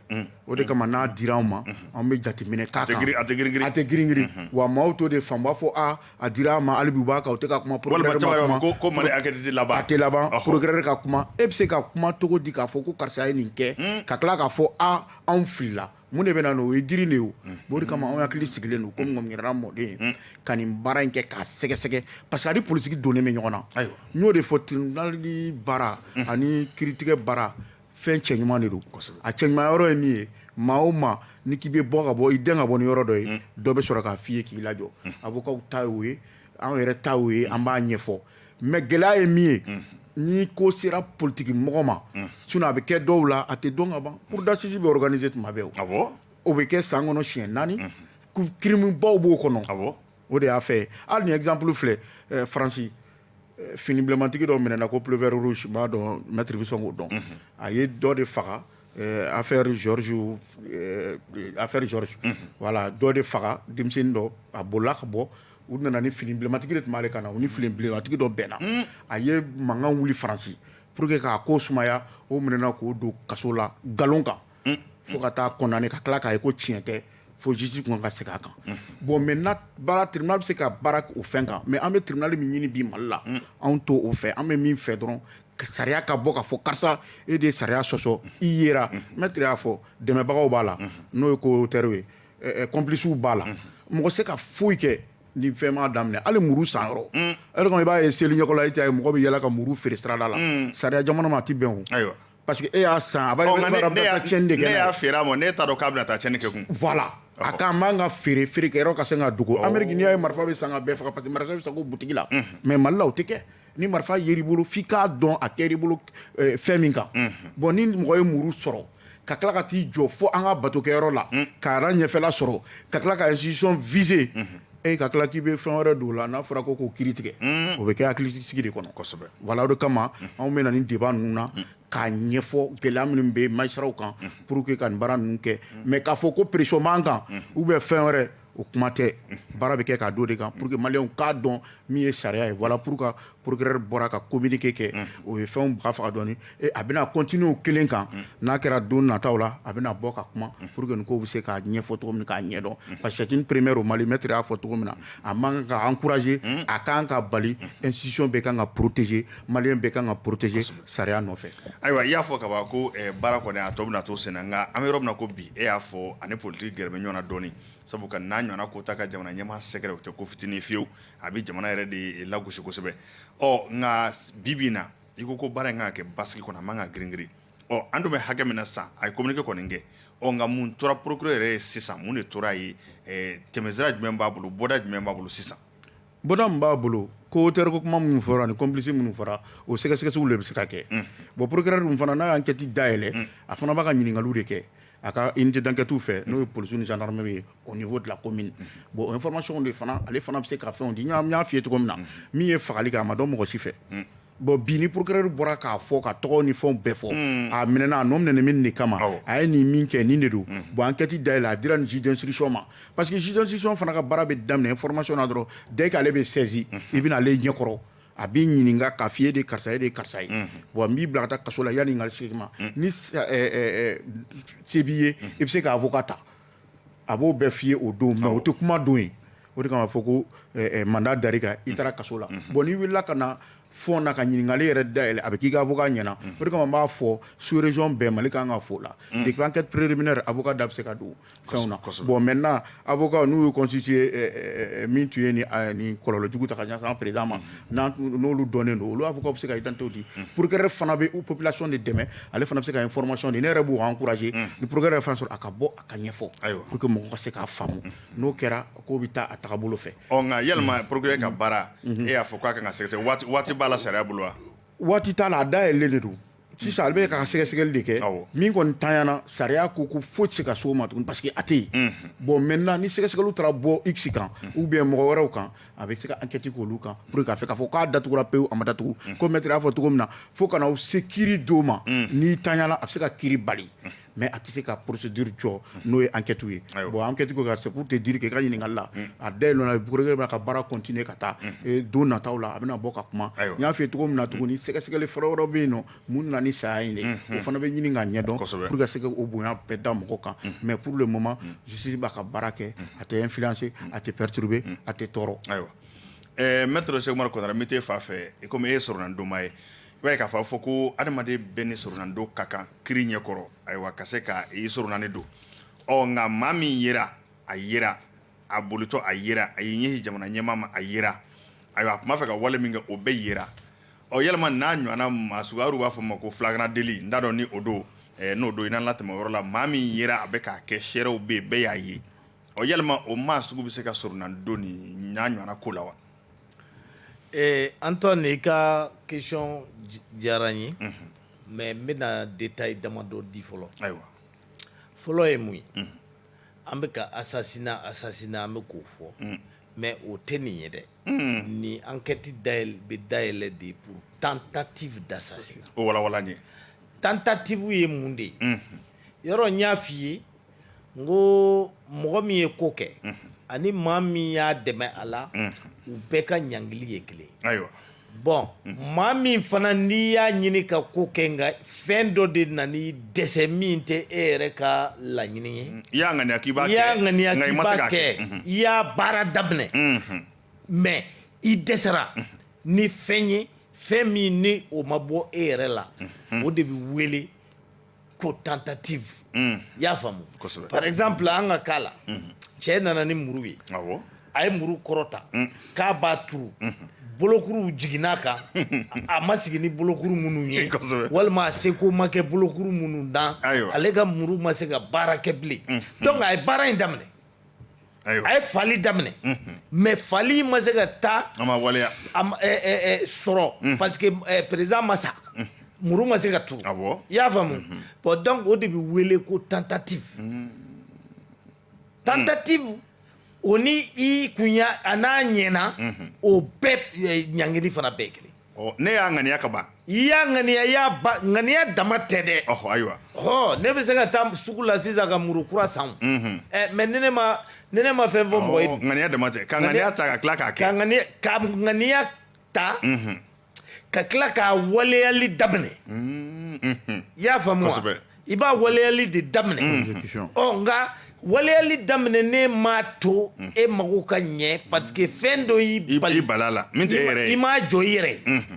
o de kama n'a dira anw ma anw bɛ jateminɛ k'a tɛ g a tɛ g a tɛ girin wa maaw t'o de faamu u b'a fɔ a dira a ma hali bi u b'a kan u tɛ ka kuma walima procureur ma caman yɛrɛ kuma. ko ko mali enquête tɛ laban a tɛ laban Ɔhɔ. procureur ka kuma e bɛ se ka kuma cogo di k'a fɔ ko karisa ye nin kɛ ka tila k'a fɔ a anw filila mun de bɛ na n'o o ye girin de ye o bon o de kama anw hakili sigilen don komi ŋɔmiyiranna mɔden ye ka nin baara in kɛ k'a sɛgɛsɛgɛ parce que a ni politiki donnen bɛ ɲɔgɔn na Ayiwa. n y'o de fɔ tribunal baara ani kiritigɛ baara fɛn cɛ ɲuman de don a cɛ ɲuman yɔrɔ ye min ye maa o maa ni k'i bɛ bɔ ka bɔ i den ka bɔ ni yɔrɔ dɔ ye dɔ bɛ sɔrɔ k'a f'i ye k'i lajɔ avocat ta y'o ye an yɛrɛ ta o ye an b'a ɲɛfɔ mais gɛlɛya ye min ye ni ko sera politigi mɔgɔ ma sinon a bɛ kɛ dɔw la a tɛ dɔn ka ban cour d'assises bɛ organiser tuma bɛɛ o o bɛ kɛ san kɔnɔ siɲɛ naani crime baw b'o kɔnɔ o de y'a fɛ hali ni exemple filɛ faransi fini bilenmantigi dɔ minɛna ko pull-over rouge n b'a dɔn maître bɛ sɔn k'o dɔn a ye dɔ de faga affaire affaire george voilà dɔ de faga denmisɛnnin dɔ a bolila ka bɔ u nana ni fini bilenmantigi de tun b'ale kan na u ni fini bilenmantigi dɔ bɛnna a ye mankan wuli faransi pour que k'a ko sumaya o minɛna k'o don kaso la nkalon kan fo ka taa condamné ka tila k'a ye ko tiɲɛ tɛ fo justice kun ka segin a kan bon maintenant baara tribunal bɛ se ka baara o fɛn kan mais an bɛ tribunal min ɲini bi mali la anw t'o fɛ an bɛ min fɛ dɔrɔn sariya ka bɔ k'a fɔ karisa e de ye sariya sɔsɔ i yera maître y'a fɔ dɛmɛbagaw b'a la n'o ye co-auteur ye complicew b'a la mɔgɔ se ka foyi kɛ ni fɛn ma daminɛ hali muru sanyɔrɔ i b'a ye seli ɲɛla mɔgɔ bɛ yaala ka muru feere sirada la sariya jamana ma a tɛ bɛn o ayiwa Parce que e y'a san a bɛ cɛnni de kɛ ne y'a feere a ma ne t'a dɔn k'a bɛna taa cɛnni kɛ kun voilà a kan man ka feere feerekɛyɔrɔ ka se ka dogo ameriki n'i y'a ye marifa bɛ san ka bɛɛ faga parce que marifa bɛ san ko butigi la mais mali la o tɛ kɛ ni marifa yer'i bolo f'i k'a dɔn a kɛr'i bolo fɛn min kan bon ni mɔgɔ ye muru sɔrɔ ka tila ka t'i jɔ fo an ka batokɛyɔrɔ la k'a ɲɛfɛla sɔrɔ ka tila ka institution visé e ka tila k'i bɛ fɛn wɛrɛ don o la n'a fɔra ko k'o kiiri tigɛ o bɛ kɛ hakilisigi de kɔnɔ kosɛbɛ voilà o de kama anw bɛ na ni débat ninnu na k'a ɲɛfɔ gɛlɛya minnu bɛ magistratw kan pour que ka nin baara ninnu kɛ mais k'a fɔ ko pression b'an kan ou bien fɛn wɛrɛ o kuma tɛ baara bɛ kɛ k'a d'o de kan pour que maliyɛnw k'a dɔn min ye sariya ye voilà pour procureur bɔra ka communiqué kɛ o ye fɛnw baga faga dɔɔnin a bɛna continuer o kelen kan n'a kɛra don nataw la a bɛna bɔ ka kuma pour que nin ko bɛ se k'a ɲɛfɔ cogo min k'a ɲɛdɔn parce que c'est une première au mali maître y'a fɔ cogo min na a man kan ka encouragé a kan ka bali institution bɛɛ ka kan ka protégé maliyɛn bɛɛ ka kan ka protégé sariya nɔfɛ ayiwa i y'a fɔ ka ban ko baara kɔni a tɔ bɛna to sen na nka an bɛ yɔrɔ min na ko bi e y'a fɔ a ni politique gɛrɛ bɛ ɲɔgɔn na dɔɔnin sabu ka n'a ɲɔgɔnna ko ta ka jamana ɲɛmaa sɛgɛrɛ o tɛ ko fitinin fiyewu a bɛ jamana yɛrɛ de lagosi kosɛbɛ ɔ nka bi bi in na i ko ko baara in kan ka kɛ basigi kɔnɔ a man kan ka girin girin ɔ an dun bɛ hakɛ min na sisan a ye communiqué kɔni kɛ ɔ nka mun tora procureur yɛrɛ ye sisan mun de tor'a ye tɛmɛsira jumɛn b'a bolo bɔda jumɛn b'a bolo sisan bɔda min b'a bolo co-auteur ko kuma minnu fɔra ani complice minnu fɔra o sɛgɛsɛgɛliw de bɛ se ka kɛ bon procureur dun fana n'a ye enquête dayɛlɛ a fana b'a ka ɲininkaliw de kɛ a ka unité d'enquêtew fɛ n'o ye police ni gendarmerie ye au niveau de la commune bon information de fana ale fana bɛ se ka fɛnw di n y'a f'i ye cogo min na min ye fagali kɛ a ma dɔn mɔgɔ si fɛ bon bi ni procureur bɔra k'a fɔ k'a tɔgɔ ni fɛnw bɛɛ fɔ a minɛna a nɔ minɛ min de kama a ye nin min kɛ nin de don bon enquête dayɛlɛ a dira nin juge d'instruction ma parce que juge d'instruction fana ka baara bɛ daminɛ information na dɔrɔn dès que ale bɛ saisi i bɛ na ale ɲɛkɔrɔ a b'i ɲininka k'a f'i ye de karisa ye de karisa ye bon n b'i bila ka taa kaso la yanni n ka se i ma ni sa- ɛ, ɛ, ɛ, se b'i ye i bɛ se ka avocat ta a b'o bɛɛ f'i ye o don mais o tɛ kuma don ye o de kama fɔ ko ɛ, ɛ, mandat dar'i kan i taara kaso la bon n'i wulila ka na fond na ka ɲininkali yɛrɛ dayɛlɛ a bɛ k'i ka avocat ɲɛna o de kama n b'a fɔ sous région bɛɛ mali kan ka fo o la depuis enquête préliminaire avocat da bɛ se ka don fɛnw na kosɛbɛ. bon maintenant Avocat n'u ye constituer min tun ye nin kɔlɔlɔ jugu ta ka ɲɛsin président ma n'olu dɔnnen don olu avocat bɛ se ka identité di procureur fana bɛ population de dɛmɛ ale fana bɛ se ka information di ne yɛrɛ b'u encourager ni procureur ye fɛn sɔrɔ a ka bɔ a k'a ɲɛfɔ pour que mɔgɔ ka se k'a faamu n'o kɛra k'o bɛ taa a tagabolo fɛ ɔ nka yalima procureur ka baara e y'a fɔ k'a ka sɛgɛsɛgɛ waati b'a la sariya bolo wa waati t'a la a dayɛlɛlen de don sisan ale bɛ ka sɛgɛsɛgɛli de kɛ min kɔni tanyana sariya ko ko foyi tɛ se ka s'o ma tuguni parce que a tɛ yen bon maintenant ni sɛgɛsɛgɛliw taara bɔ x kan ou bien mɔgɔ wɛrɛw kan a bɛ se ka enquête kɛ olu kan pour que k'a fɛ k'a fɔ k'a datugura pewu a ma datugu comme maître y'a fɔ cogo min na fo ka na se kiri don ma n'i tanyana a bɛ se ka kiri bali mɛ a tɛ se ka porosi duuru jɔ n'o ye an kɛtu ye bon an kɛcogo ka segu tɛ di kɛ ka ɲininkaka la a da bɛ b'a ka baara kɔntininye ka taa don nata la a bɛna bɔ ka kuma n y'a fɛ cogo min na tuguni ni sɛgɛsɛgɛli fɔlɔ yɔrɔ bɛ yen nɔ mun nana ni saya in o fana bɛ ɲini ka ɲɛ dɔnsɛbɛ ka se o bonya bɛɛ da mɔgɔ kan mɛ pur mama sisi b'a ka baara kɛ a tɛ n fise a tɛ pɛrituurube a tɛ tɔɔrɔ ayiwa n se kɔnɔ n bɛ taa fa fɛ i e sɔrɔ donma ye I b'a ye k'a fɔ a fɔ ko adamaden bɛɛ ni soronadon ka kan kiri ɲɛkɔrɔ ayiwa ka se ka i sɔrɔnani don ɔ nka maa min yera a yera a bolitɔ a yera a y'i ɲɛsin jamana ɲɛmaa ma a yera ayiwa a tun b'a fɛ ka wale min kɛ o bɛɛ yera ɔ yalima n'a ɲɔgɔn maa sugu b'a fɔ ma ko flagrant délit n t'a dɔn ni o don n'o don i n'an latɛmɛ yɔrɔ la maa min yera a bɛ k'a kɛ seerew bɛ bɛɛ y'a ye ɔ yalima o maa sugu bɛ se ka soronadon nin ɲɔgɔn ko la wa Ee Antoine i ka question diyara n ye mais n bɛna détail damadɔ di fɔlɔ ayiwa fɔlɔ ye mun ye an bɛ ka assassinat assassinat an bɛ k'o fɔ mais o tɛ nin ye dɛ nin enquête da bɛ dayɛlɛ de pour tentative d'assassinat o ye tentative ye mun de ye yɔrɔ n y'a f'i ye n ko mɔgɔ min ye ko kɛ ani maa min y'a dɛmɛ a la u bɛɛ ka ɲangili ye kelen ye ayiwa bon maa min fana n'i y'a ɲini ka ko kɛ nka fɛn dɔ de nan'i dɛsɛ min tɛ e yɛrɛ ka laɲini ye i y'a ŋaniya k'i b'a kɛ. i y'a ŋaniya k'i b'a kɛ i y'a baara daminɛ mais i dɛsɛra ni fɛn ye fɛn min ni o ma bɔ e yɛrɛ la o de bɛ wele ko tentative i y'a faamu par exemple an ka cas la cɛ nana ni muru ye a ye muru kɔrɔta k'a b'a turu bolokuruw jiginn'a kan a ma sigi ni bolokuru minnu ye walima a seko ma kɛ bolokuru minnu na ale ka muru ma se ka baara kɛ bilen donc a ye baara in daminɛ a ye faali daminɛ mais faali ma se ka taa a ma waleya sɔrɔ parce que président ma sa muru ma se ka turu i y'a faamu bon donc o de bɛ wele ko tentative tentative o ni i kun a n'a ɲɛna o bɛɛ ɲangili fana bɛɛ kelen Ɔ ne y'a ŋaniya ka ban i y'a ŋaniya i y'a ba ŋaniya dama tɛ dɛ ɔhɔ ayiwa ɔ ne bɛ se ka taa sugu la sisan ka muru kura san mhm. ɛ mais ne ne ma ne ne ma fɛn fɔ mɔgɔ ye ŋaniya dama tɛ ka ŋaniya ta ka tila k'a kɛ ka ŋaniya ka ŋaniya ta mhm. ka tila k'a waleyali daminɛ mhm, i y'a faamu wa i b'a waleyali de daminɛ mm. ɔ nka waleyali daminɛnen m'a to mm. e mago ka ɲɛ parce que fɛn dɔ y'i bali bala la min tɛ e yɛrɛ ye i m'a jɔ i yɛrɛ mm-hmm.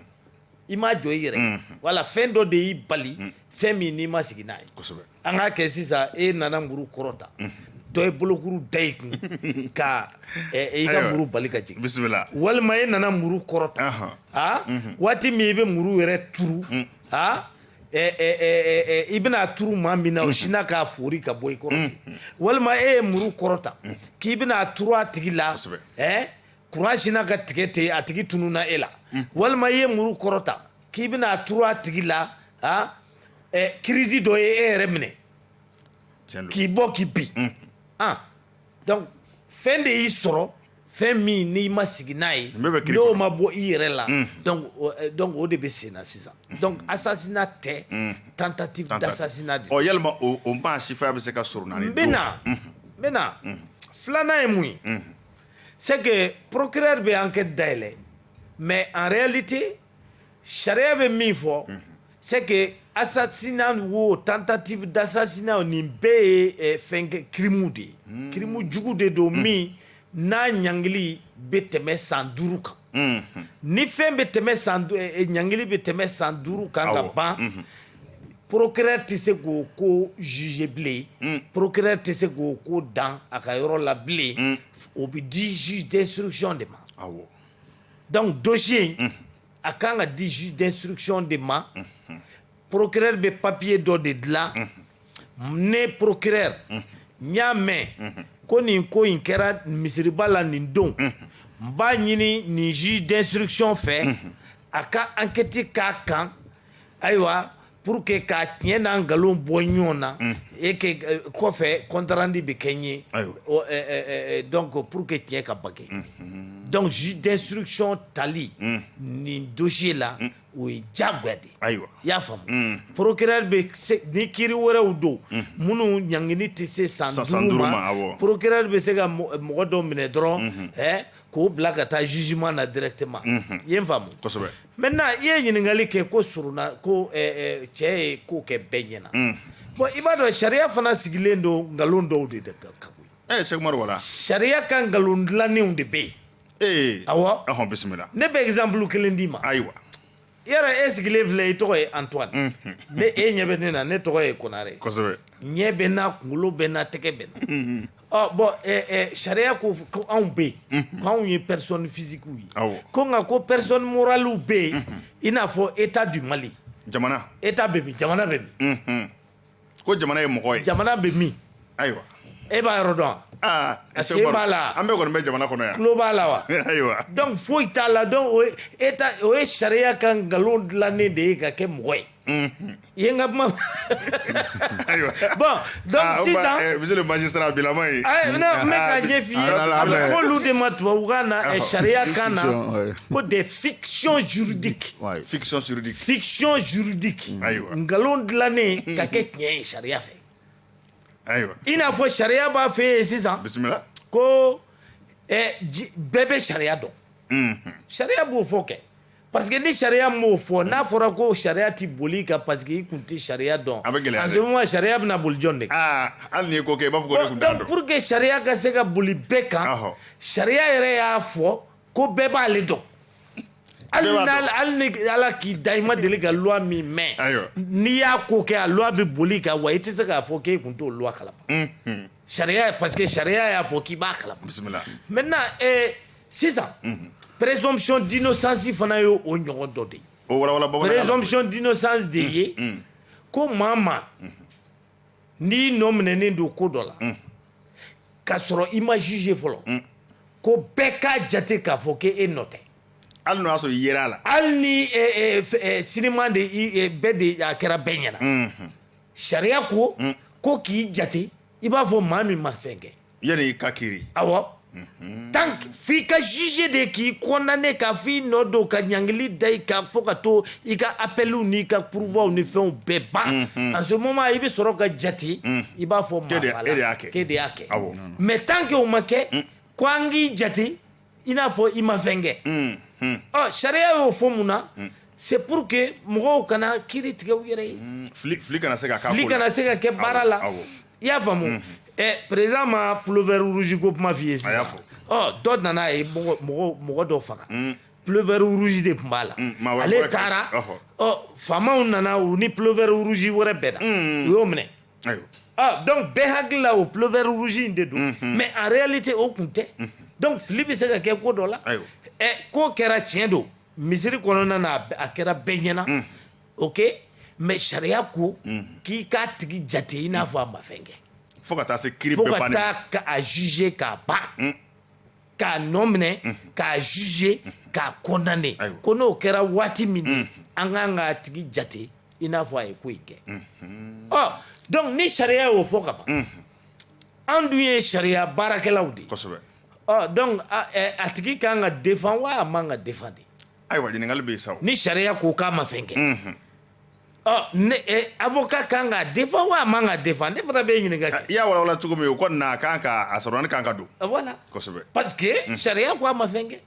i m'a jɔ i yɛrɛ mm-hmm. wala fɛn dɔ de y'i bali mm. fɛn min n'i ma sigi n'a ye kosɛbɛ an k'a kɛ sisan e nana muru kɔrɔta mm-hmm. dɔ ye bolokuru da i kun ka i ka muru bali ka jigin bisimila walima e nana muru kɔrɔta waati min i bɛ muru yɛrɛ turu i bɛna turu maa min na o sinna k'a fori ka bɔ i kɔrɔ ten walima e ye muru kɔrɔta k'i bɛna turu a tigi la kuran sinna ka tigɛ ten a tigi tununna e la walima i ye muru kɔrɔta k'i bɛna turu a tigi la kirisi dɔ ye e yɛrɛ minɛ k'i bɔ k'i bin donc fɛn de y'i sɔrɔ fɛn min n'i ma sigi n'a ye n'o ma bɔ i yɛrɛ la mm. euh, donc o de bɛ sen na sisan mm. donc assassinat tɛ mm. tentative d'assassinat de ɔ yalima o maa sifaya bɛ se ka sɔrɔ naani don n bɛ na n bɛ na filanan ye mun ye c'est que procureur bɛ enquête dayɛlɛ mais en réalité sariya bɛ min fɔ c'est que assassinat wo tentative d'assassinat nin bɛɛ ye eh, fɛn kɛ kirimu de ye hmm. kirimu jugu de don hmm. min n'a ɲangili bɛ tɛmɛ san duuru kan hmm. ni fɛn bɛ tɛmɛ san eh, eh, ɲangili bɛ tɛmɛ san duuru kan ka ban procureur tɛ se k'o ko juger bilen mm. procureur tɛ se k'o ko dan a ka yɔrɔ la bilen mm. o bɛ di juge d'instruction de ma. donc dossier in a kan ka di juge d'instruction de ma procureur bɛ papier dɔ de dilan ne procureur n y'a mɛn ko nin ko in kɛra misiriba la nin don n b'a ɲini nin juge d'instruction fɛ a ka enquête k'a kan ayiwa pour que k'a tiɲɛ n'a nkalon bɔ ɲɔgɔn na mm. et que euh, kɔfɛ compte rendu bɛ kɛ n ye euh, euh, donc pour que tiɲɛ ka bange mm-hmm. donc juge d'instruction tali mm. nin dossier la mm. o ye diyagoya de ye i y'a faamu procureur bɛ se ni kiiri wɛrɛw don minnu ɲangini tɛ se san duuru ma procureur bɛ se ka mɔgɔ dɔ minɛ dɔrɔn mm-hmm. k'o bila ka taa jugement na directement i ye n faamu kosɛbɛ Maintenant i ye ɲininkali kɛ ko surun na ko cɛ ye ko kɛ bɛɛ ɲɛna bon i b'a dɔn sariya fana sigilen don nkalon dɔw de de kan koyi Sɛkumaru wala sariya ka nkalon dilannenw de bɛ yen awɔ ɔhɔn bisimila ne bɛ exemple kelen d'i ma ayiwa e yɛrɛ e sigilen filɛ i tɔgɔ ye Antoine ne e ɲɛ bɛ ne na ne tɔgɔ ye Konare ɲɛ bɛ n na kunkolo bɛ n na tɛgɛ bɛ n na Ɔ bon sariya ko ko anw bɛ yen k'anw ye personne physiquew ye ko nka ko personne moralew bɛ yen i n'a fɔ état du Mali jamana état bɛ min jamana bɛ min ko jamana ye mɔgɔ ye jamana bɛ min ayiwa e b'a yɔrɔ dɔn wa sen b'a la an bɛɛ kɔni bɛ jamana kɔnɔ yan tulo b'a la wa ayiwa donc foyi t'a la donc état o ye sariya ka nkalon dilannen de ye ka kɛ mɔgɔ ye Ye n ka kuma ayiwa bon donc sisan magistrat bilama ye ka ɲɛ f'i ye a bɛ f'olu de ma tubabukan na sariya kan na ko des fictions juridiques fiction juridique fiction juridique ayiwa nkalon dilannen ka kɛ tiɲɛ ye sariya fɛ ayiwa i n'a fɔ sariya b'a f'an ye sisan bisimila ko bɛɛ bɛ sariya dɔn sariya b'o fɔ kɛ Parce que ni sariya m'o fɔ n'a fɔra ko sariya ti bol'i kan parce que i kun ti sariya dɔn a sariya bɛna boli jɔn de kan hali n'i ko kɛ i b'a fɔ ko ne kun t'a dɔn donc pour que sariya ka se ka boli bɛɛ kan sariya yɛrɛ y'a fɔ ko bɛɛ b'ale dɔn hali hali ni ala k'i da i ma deli ka loi min mɛn n'i y'a ko kɛ a loi bɛ bol'i kan wa i tɛ se k'a fɔ k'e kun t'o loi kalama Sariya parce que sariya y'a fɔ k'i b'a kalama bisimila maintenant sisan présomption d'innocence fana ye o ɲɔgɔn dɔ de ye présomption d'innocence de ye ko maa o maa n'i nɔ minɛnen don ko dɔ la k'a sɔrɔ i ma jugé fɔlɔ ko bɛɛ k'a jate k'a fɔ k'e e nɔ tɛ hali n'o y'a sɔrɔ i yer'a la hali ni sinima de bɛɛ de a kɛra bɛɛ ɲɛna sariya ko mm. ko k'i jate i b'a fɔ maa min ma fɛn kɛ yanni i ka kiiri awɔ mhm. tant f'i ka jugé de k'i condamné ka f'i nɔ don ka ɲangili da i kan fo ka to i ka appeliw n'i ka pourvoiw ni fɛnw bɛɛ ban mhm. en ce moment i bɛ sɔrɔ ka jate mm. i b'a fɔ maafala k'e de y'a kɛ mais tant que o ma kɛ mm. ko an k'i jate i n'a fɔ i ma fɛn kɛ mm, mm. ɔ sariya y'o fɔ mun na mm. c'est pour que mɔgɔw kana kiri tigɛ u yɛrɛ ye fili kana se ka fili kana se ka kɛ baara la i y'a faamu président ma pullover rouge ko kuma f'i ye sisan ɔ dɔ nana ye mɔgɔ mɔgɔ dɔ faga pullover rouge de tun b'a la ale taara ɔ faamaw nana u ni pullover rouge wɛrɛ bɛnna u y'o minɛ donc bɛɛ hakili la o pullover rouge in de don mais en réalité o kun tɛ donc fili bɛ se ka kɛ ko dɔ la k'o kɛra tiɲɛ don misiri kɔnɔna na a kɛra bɛɛ ɲɛ na ok mais sariya ko k'i k'a tigi jate i n'a fɔ a ma fɛn kɛ fo ka taa se ka taa k'a juger k'a ba k'a nɔ minɛ k'a juger k'a condamner ko n'o kɛra waati min an kan k'a tigi jate i n'a fɔ a ye ko in kɛ ɔ donc ni sariya y'o fɔ ka ban an dun ye sariya baarakɛlaw de ye kosɛbɛ ɔ donc a tigi ka kan ka défendre wa a man ka défendre ayiwa ɲininkali bɛ yen sa ni sariya ko k'a ma fɛn kɛ avocat kan ka défendre wa a man ka défendre ne fana bɛ ɲininka kɛ i y'a walawala cogo min o kɔni na a kan ka a sorona kan ka don voilà kosɛbɛ parce que sariya ko a ma fɛn kɛ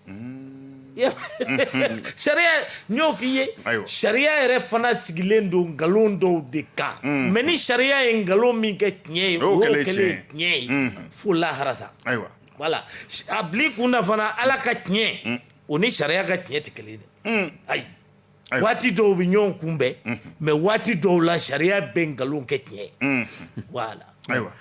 sariya n y'o fɔ i ye sariya yɛrɛ fana sigilen don nkalon dɔw de kan mais ni sariya ye nkalon min kɛ tiɲɛ ye o y'o kɛlen tiɲɛ ye fo lahara sa ayiwa voilà a bil'i kun na fana ala ka tiɲɛ o ni sariya ka tiɲɛ tɛ kelen dɛ ayi waati dɔw bɛ ɲɔgɔn kunbɛn mais waati dɔw la sariya bɛ nkalon kɛ tiɲɛ voilà ayiwa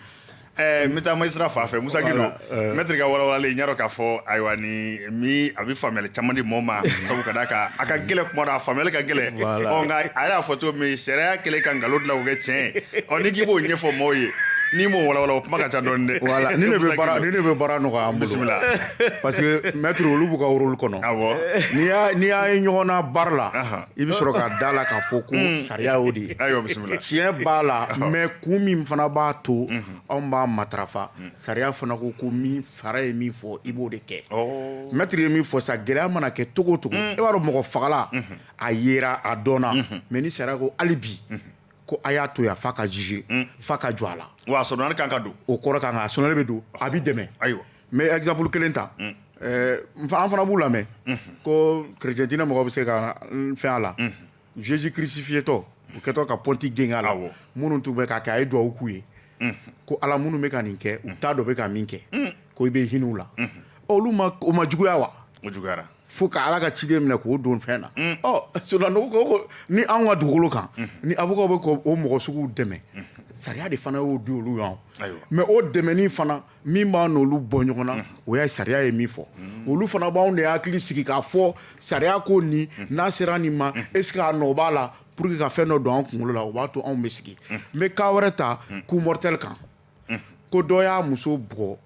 n bɛ taa magistrat fan fɛ Musa Gindo maître ka walawalali n y'a dɔn k'a fɔ ayiwa ni a bɛ faamuyali caman di maaw ma sabu ka d'a kan a ka gɛlɛn kuma dɔ a faamuyali ka gɛlɛn nka a y'a fɔ cogo min sariya kɛlen ka nkalon dilan k'o kɛ tiɲɛ ɔ n'i k'i b'o ɲɛfɔ maaw ye n'i m'o walawala o kuma ka ca dɔɔni dɛ ne bɛ baara nɔgɔya bisimila parce que maître olu b'u ka rôle kɔnɔ n'i y'a ye ɲɔgɔn na baara la i bɛ sɔrɔ ka da la k'a fɔ ko hmm. sariya o de ye tiɲɛ b'a la mais kun min fana b'a to hmm. anw b'a matarafa hmm. sariya fana ko ko min fara ye min fɔ i b'o de kɛ oh. maître ye min fɔ sa gɛlɛya mana kɛ cogo cogo e b'a dɔn mɔgɔ fagala a yera a dɔnna mais ni sariya ko hali bi ko a y'a to yan f'a ka juger f'a ka jɔ a la wa a sorona kan ka don o kɔrɔ kan ka a sorona bɛ don a bɛ dɛmɛ ayiwa n bɛ exemple kelen ta an fana b'u lamɛn ko chrétien diinɛ mɔgɔw bɛ se ka n fɛn a la Jésus crucifié tɔ u kɛtɔ ka pɔnti gengen a la minnu tun bɛ k'a kɛ a ye duwawu k'u ye ko Ala minnu bɛ ka nin kɛ u t'a dɔn u bɛ ka min kɛ ko i bɛ hinɛ u la olu ma o ma juguya wa o juguyara fo ka Ala ka ciden minɛ k'o don fɛn na ɔ sɔrɔdasiw ko ko ni anw ka dugukolo kan ni avocat bɛ k'o mɔgɔ suguw dɛmɛ sariya de fana y'o di olu ma mais o dɛmɛni fana min b'a n'olu bɔ ɲɔgɔn na o ye sariya ye min fɔ olu fana b'anw de hakili sigi k'a fɔ sariya ko nin n'a sera nin ma est ce que a nɔ b'a la pour que ka fɛn dɔ don an kunkolo la o b'a to anw bɛ sigi n bɛ cas wɛrɛ ta coup mortel kan ko dɔ y'a muso bugɔ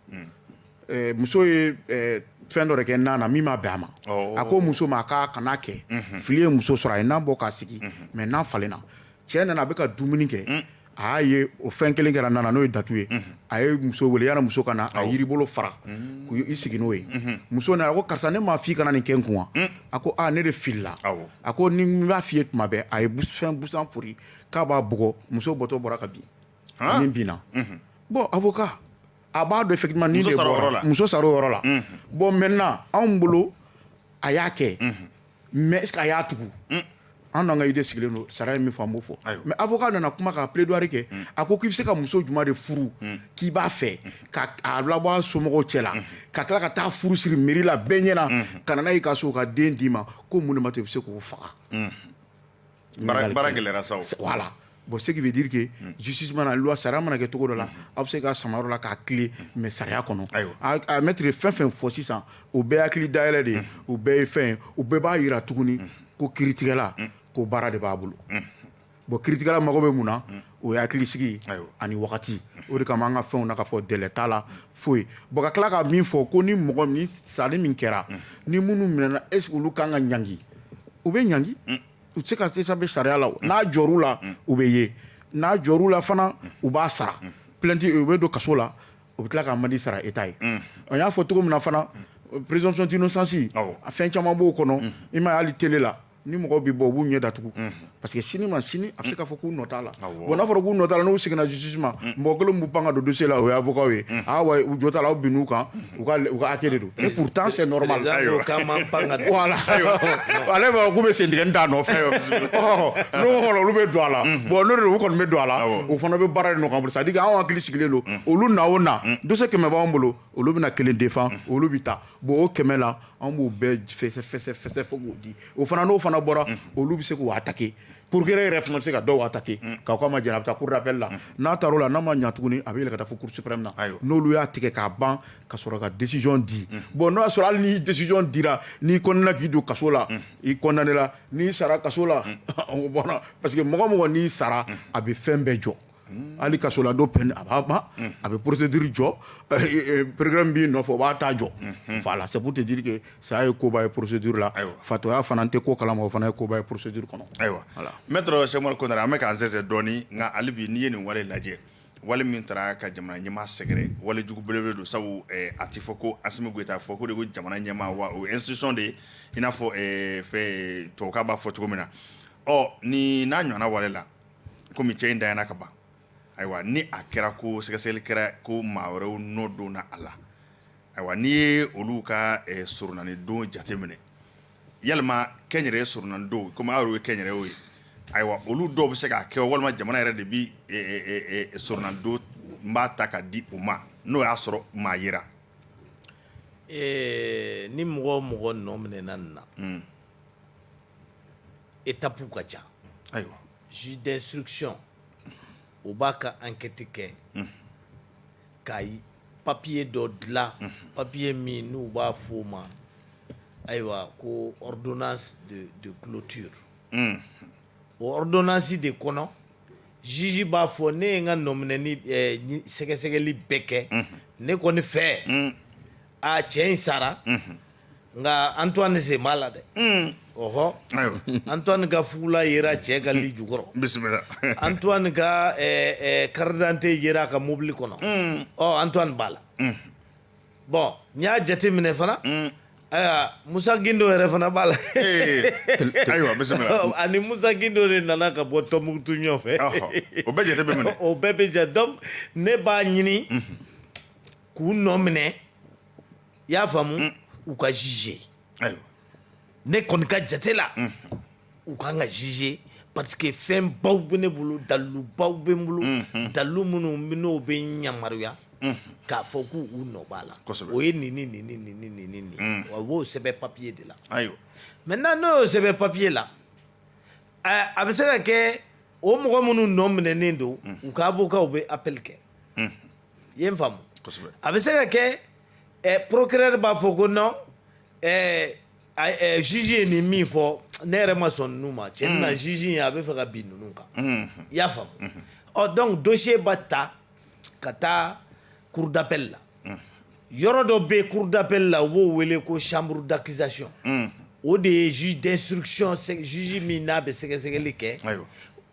eh, muso ye eh, fɛn dɔ de kɛ nan na min ma bɛn a ma oh. a ko muso ma k'a kana kɛ mhm. fili ye muso sɔrɔ a ye nan bɔ k'a sigi mais mhm. nan falenna cɛ nana a bɛ ka dumuni kɛ mm. a y'a ye o fɛn kelen kɛra nan na n'o ye datu ye mm-hmm. a ye muso wele yanni muso ka na a yiri bolo fara mm. k'i sigi n'o ye mm-hmm. muso nana a ko karisa ne m'a f'i kana nin kɛ n kun wa mm. a ko aa ne de filila a ko ni n b'a f'i ye tuma bɛɛ a ye fɛn busan fori k'a b'a bugɔ muso bɔtɔ bɔra ka bin ani binna mm-hmm. bon avocat a b'a dɔn effectivement ni de bɔra muso sara o yɔrɔ la bon maintenant anw bolo a y'a kɛ mais est ce que a y'a tugu mm. an n'an ka idée sigilen don sariya ye min fɔ an b'o fɔ mais avocat nana kuma ka plaidoirie kɛ mm. a ko k'i bɛ se ka muso juma de furu mm. k'i b'a fɛ ka a labɔ a somɔgɔw cɛ la ka tila ka taa furu siri mairie la bɛɛ ɲɛna ka na n'a y'i ka so ka den d'i ma ko mun de ma to i bɛ se k'o faga Baara gɛlɛyara sa voilà bon ce qui veut dire que justice mana loi sariya mana kɛ cogo dɔ la aw bɛ se k'a sama yɔrɔ dɔ la k'a tilen mais sariya kɔnɔ a maître ye fɛn fɛn fɔ sisan o bɛɛ hakili dayɛlɛ de ye o bɛɛ ye fɛn o bɛɛ b'a yira tuguni ko kiritigɛla ko baara de b'a bolo bon kiritigɛla mago bɛ mun na o ye hakili sigi ani wagati o de kama an ka fɛnw na k'a fɔ délai t'a la foyi bon ka tila ka min fɔ ko ni mɔgɔ ni sali min kɛra ni minnu minɛna est ce que olu kan ka ɲangi u bɛ ɲangi u tɛ se ka s'échapper sariya la n'a jɔr'u la u bɛ ye n'a jɔr'u la fana u b'a sara plainte u bɛ don kaso la u bɛ tila ka amende sara État ye an y'a fɔ cogo min na fana présomption d'innocence a fɛn caman b'o kɔnɔ i m'a ye hali télé la ni mɔgɔw bɛ bɔ u b'u ɲɛ datugu parce que sini ma sini a bɛ se k'a fɔ k'u nɔ t'a la wa n'a fɔra k'u nɔ t'a la n'u seginna justice ma mɔgɔ kelen b'u pan ka don dossier la o y'avocatw ye wa u jɔ t'a la aw binn'u kan u ka hakɛ de don pourtant c'est normal voilà ale k'u bɛ sen tigɛ da nɔfɛ olu bɛ don a la bon u kɔni bɛ don a la o fana bɛ baara nɔgɔya c'est à dire anw hakili sigilen don olu na o na dossier kɛmɛ b'an bolo olu bɛna kelen défend olu bɛ taa bon o kɛmɛ la an b'o bɛɛ fɛsɛfɛsɛ fo k'o di o fana n'o fana bɔra olu bɛ se k'o attaquer procureur yɛrɛ fana bɛ se ka dɔw attaquer k' ko a ma jɛn a bɛ taa cour d'appel la n'a taar'o la n'a ma ɲa tuguni a bɛ yɛlɛ ka taa fo cour suprême na n'olu y'a tigɛ k'a ban ka sɔrɔ ka décision di bon n'o y'a sɔrɔ hali ni décision dira n'i condamné k'i don kaso la i condamné la n'i sara kaso la bon parce que mɔgɔ o mɔgɔ n'i sara a bɛ fɛn bɛɛ jɔ hali kasoladon peine a b'a ban a bɛ procédure jɔ programme b'i nɔfɛ o b'a ta jɔ voilà c'est pour te dire que saya ye koba ye procédure la ayiwa fatɔya fana tɛ ko kalama o fana ye koba ye procédure kɔnɔ ayiwa maître cheick oumar konaré an bɛ k'an sɛnsɛn dɔɔnin nka hali bi n'i ye nin wale lajɛ wale min taara ka jamana ɲɛmaa sɛgɛrɛ wale jugu belebele don sabu a tɛ fɔ ko asimi goyita fɔ ko de ko jamana ɲɛmaa wa o institution de ye i n'a fɔ fɛ tubabukan b'a fɔ cogo min na ɔ nin n'a ɲɔgɔnna wale la kɔmi cɛ in dayana ka ban ayiwa ni a kɛra ko sɛgɛsɛgɛli kɛra ko maa wɛrɛw nɔ donna a la ayiwa n'i ye olu ka soronadon jate minɛ yalima kɛnyɛrɛye soronadon komi aw ye kɛnyɛrɛye ye ayiwa olu dɔw bɛ se k'a kɛ walima jamana yɛrɛ de bɛ soronadon n b'a ta ka di u ma n'o y'a sɔrɔ maa yera ni mɔgɔ o mɔgɔ nɔ minɛna na étapew ka ca ayiwa juge d'instruction o b'a ka enquête kɛ ka papiye dɔ dilan papiye min n'u b'a f fɔ o ma ayiwa ko ordonnance de clôture o ordonnance de kɔnɔ juge b'a fɔ ne ye n ka nɔminɛni sɛgɛsɛgɛli bɛɛ kɛ ne kɔni fɛ aa cɛ in sara nka antoine sen b'a la dɛ ɔɔ antoine ka fugula yera cɛ ka lit jukɔrɔ bisimila antoine ka carte d'identité yera a ka mobili kɔnɔ ɔ antoine b'a la bon n y'a jate minɛ fana ayiwa musa gindo yɛrɛ fana b'a la ani musa gindo de nana ka bɔ tumbutu ɲɔgɔn fɛ o bɛɛ bɛ jate donc ne b'a ɲini k'u nɔ minɛ i y'a faamu mm. u ka juger ayiwa ne kɔni ka jate la mm. u kan ka juger parce que fɛn baw bɛ ne bolo dalilu baw bɛ n bolo mm-hmm. dalilu minnu n'o bɛ n yamaruya mm-hmm. k'a fɔ k'u u nɔ b'a la o ye nin ni nin ni nin ni nin ni nin mm. wa u b'o sɛbɛn papiye de la ayiwa maintenant n'o y'o sɛbɛn papiye la a bɛ se ka kɛ o mɔgɔ minnu nɔ minɛnen don u ka avocat u bɛ appel kɛ i ye n faamu kosɛbɛ a bɛ se ka kɛ eh, procureur b'a fɔ ko non eh, a- eh, juge ye nin min fɔ ne yɛrɛ ma sɔn ninnu ma cɛɲa juge ye a bɛ fɛ ka bin ninnu kan i y'a faamu ɔ donc dossier b'a ta ka taa cour d'appel la yɔrɔ dɔ bɛ cour d'appel la u b'o wele ko chambre d'accusation o de ye juge d'instruction juge min n'a bɛ sɛgɛsɛgɛli kɛ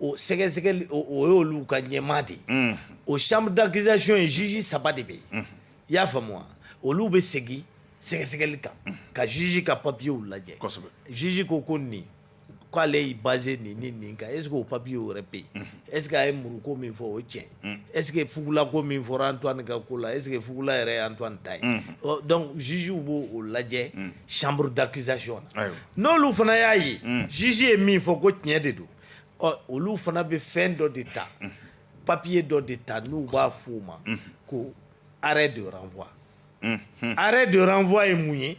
o sɛgɛsɛgɛli o y'olu ka ɲɛmaa de ye o chambre d'accusation ye juge saba de bɛ yen i y'a faamu wa olu bɛ segin sɛgɛsɛgɛli kan ka juge ka papiyew lajɛ juge ko ko nin K' ale y'i basé nin ni nin kan est-ce que o papiye o yɛrɛ bɛ yen est-ce que a ye muru ko min fɔ o cɛn est-ce que fugula ko min fɔra Antoine ka ko la est-ce que fugula yɛrɛ Antoine ta ye donc jugew b'o lajɛ chambre d'accusation na n'olu fana y'a ye juge ye min fɔ ko tiɲɛ de don ɔ olu fana bɛ fɛn dɔ de ta papiye dɔ de ta n'u b'a f' o ma ko arrêt de renvoi arrêt de renvoi ye mun ye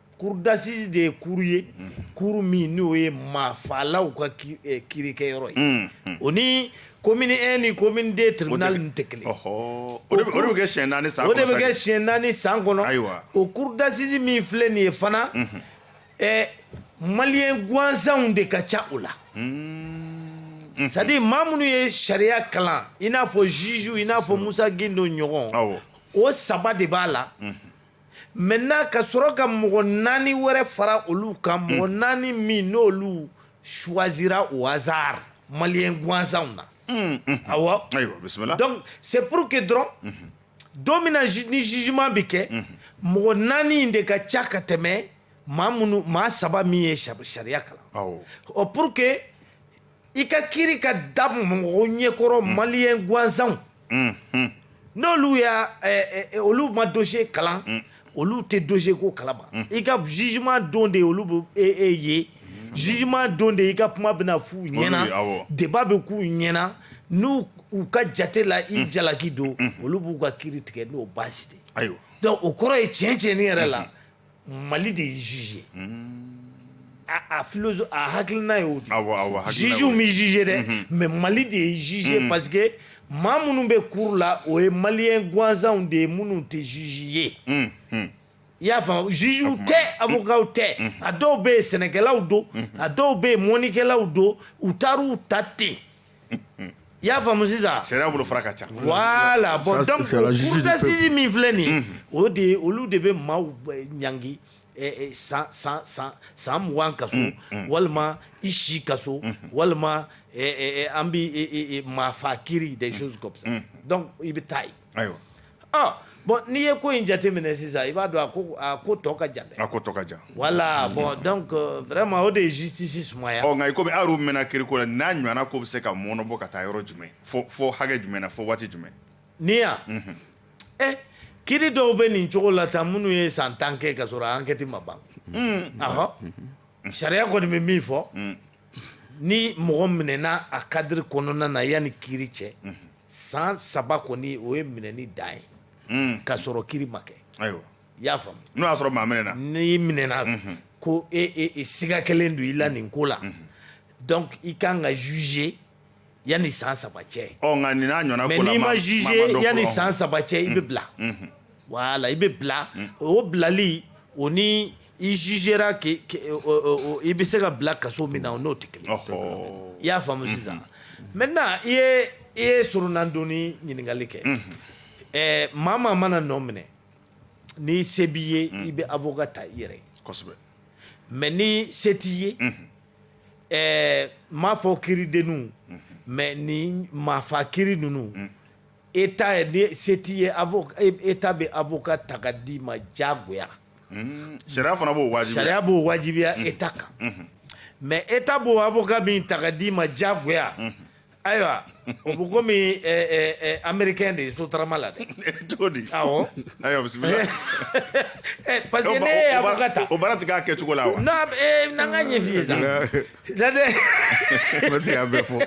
Cour d'assises de ye cour ye cour min n'o ye maafalaw ka kirikɛyɔrɔ ye o ni commune un ni commune deux tribunal nin tɛ kelen kɛ siɲɛ naani san o de bɛ kɛ siɲɛ naani san kɔnɔ ayiwa o cour d'assises min filɛ nin ye fana maliyɛn gansanw de ka ca o la c'est-à-dire maa minnu ye sariya kalan i n'a fɔ jugew i n'a fɔ Musa Guindo ɲɔgɔn o saba de b'a la maintenant ka sɔrɔ ka mɔgɔ naani wɛrɛ fara olu kan mɔgɔ hmm. naani min n'olu choisira au hasard maliyɛn gansanw na hmm, hmm. awɔ donc c'est pour que dɔrɔn don min na ni jugement bɛ kɛ mɔgɔ naani in de ka ca ka tɛmɛ maa minnu maa saba min ye sariya kalan ɔ pour que i ka kiri ka da mɔgɔ ɲɛkɔrɔ mm. maliyɛn gansanw mm-hmm. n'olu y'a eh, eh, olu ma dosiye kalan mm. olu tɛ dosiye ko kalama mm. i ka jugement don de olu bɛ e e ye jugement don de i ka kuma bɛna f'u ɲɛna débat bɛ k'u ɲɛna n'u u ka jate la i jalaki don olu b'u ka kiri tigɛ n'o baasi de ye donc o kɔrɔ ye tiɲɛ tiɲɛni yɛrɛ la Mali de ye juge ye, unhun, a philosophie a hakilina y'o de ye, awɔ, awɔ, hakilina y'o ye, juges bɛ juger dɛ, unhun, mais Mali de ye juge ye parce que maa minnu bɛ cour la o ye maliyɛn gansanw de ye minnu tɛ juge ye, unhun. i y'a faamu jugew tɛ avocaw tɛ a dɔw bɛ yen sɛnɛkɛlaw don a dɔw bɛ yen mɔnikɛlaw don u taar'u ta ten i y'a faamu sisan sariya bolofara ka ca voilà bon Ça, c'est la justice du peuple. donc cour d'assises min filɛ nin ye o de ye olu de bɛ maaw eh, ɲangi eh, eh, san san san san mugan kaso walima i si kaso walima eh, eh, eh, an bi eh, eh, eh, maafa kiri des choses comme ça donc i bɛ taa yen Ayiwa bɔn n'i ye ko in jateminɛ sisan i b'a dɔn a ko tɔ ka jan dɛ a ko tɔ ka jan voilà bon donc vraiment o de ye justice sumaya nka kɔmi aw yɛrɛ mɛnna kiri ko la n'a ɲɔgɔnna ko bɛ se ka mɔnɔbɔ ka taa yɔrɔ jumɛn fo hakɛ jumɛn na fo waati jumɛn ni yan ɛ kiri dɔw bɛ nin cogo la tan minnu ye san tan kɛ ka sɔrɔ enquête ma ban ahɔ sariya kɔni bɛ min fɔ ni mɔgɔ minɛna a cadre kɔnɔna na yanni kiri cɛ san saba kɔni o ye minɛni dan ye hmm. ka sɔrɔ kiri ma kɛ ayiwa i y'a faamu n'o y'a sɔrɔ maa minɛna n'i minɛna hmm. ko e, e, e siga kɛlen don i la hmm. nin ko la donc i kan ka juger yan ni san saba cɛ yan ni san saba cɛ i bɛ bila wala i bɛ bila o bilali o ni iz i bɛ se ka bila kaso min na o n'o tɛ kelen i y'a faamumu sisan mɛ na i e ye sdon ɲininkakali kɛ ɛ maa maa mana nɔ minɛ ni se b'i ye i bɛ a fɔ ka taa i yɛrɛ mɛ ni se t'i ye ɛɛ n m'a fɔ kiridenninw mais ni maafa kiri ninnu État ni se t'i ye État bɛ avocat ta ka d'i ma diyagoya sariya fana b'o wajibiya sariya b'o wajibiya État kan mais État b'o avocat min ta ka d'i ma diyagoya ayiwa o bɛ komi américain de ye sotarama la dɛ cogo di awɔ ayiwa bisimila parce que n'e ye avocat ta o baara ti k'a kɛcogo la wa non n'an k'a ɲɛf'i ye sa c'est-à-dire ne ti k'a bɛɛ fɔ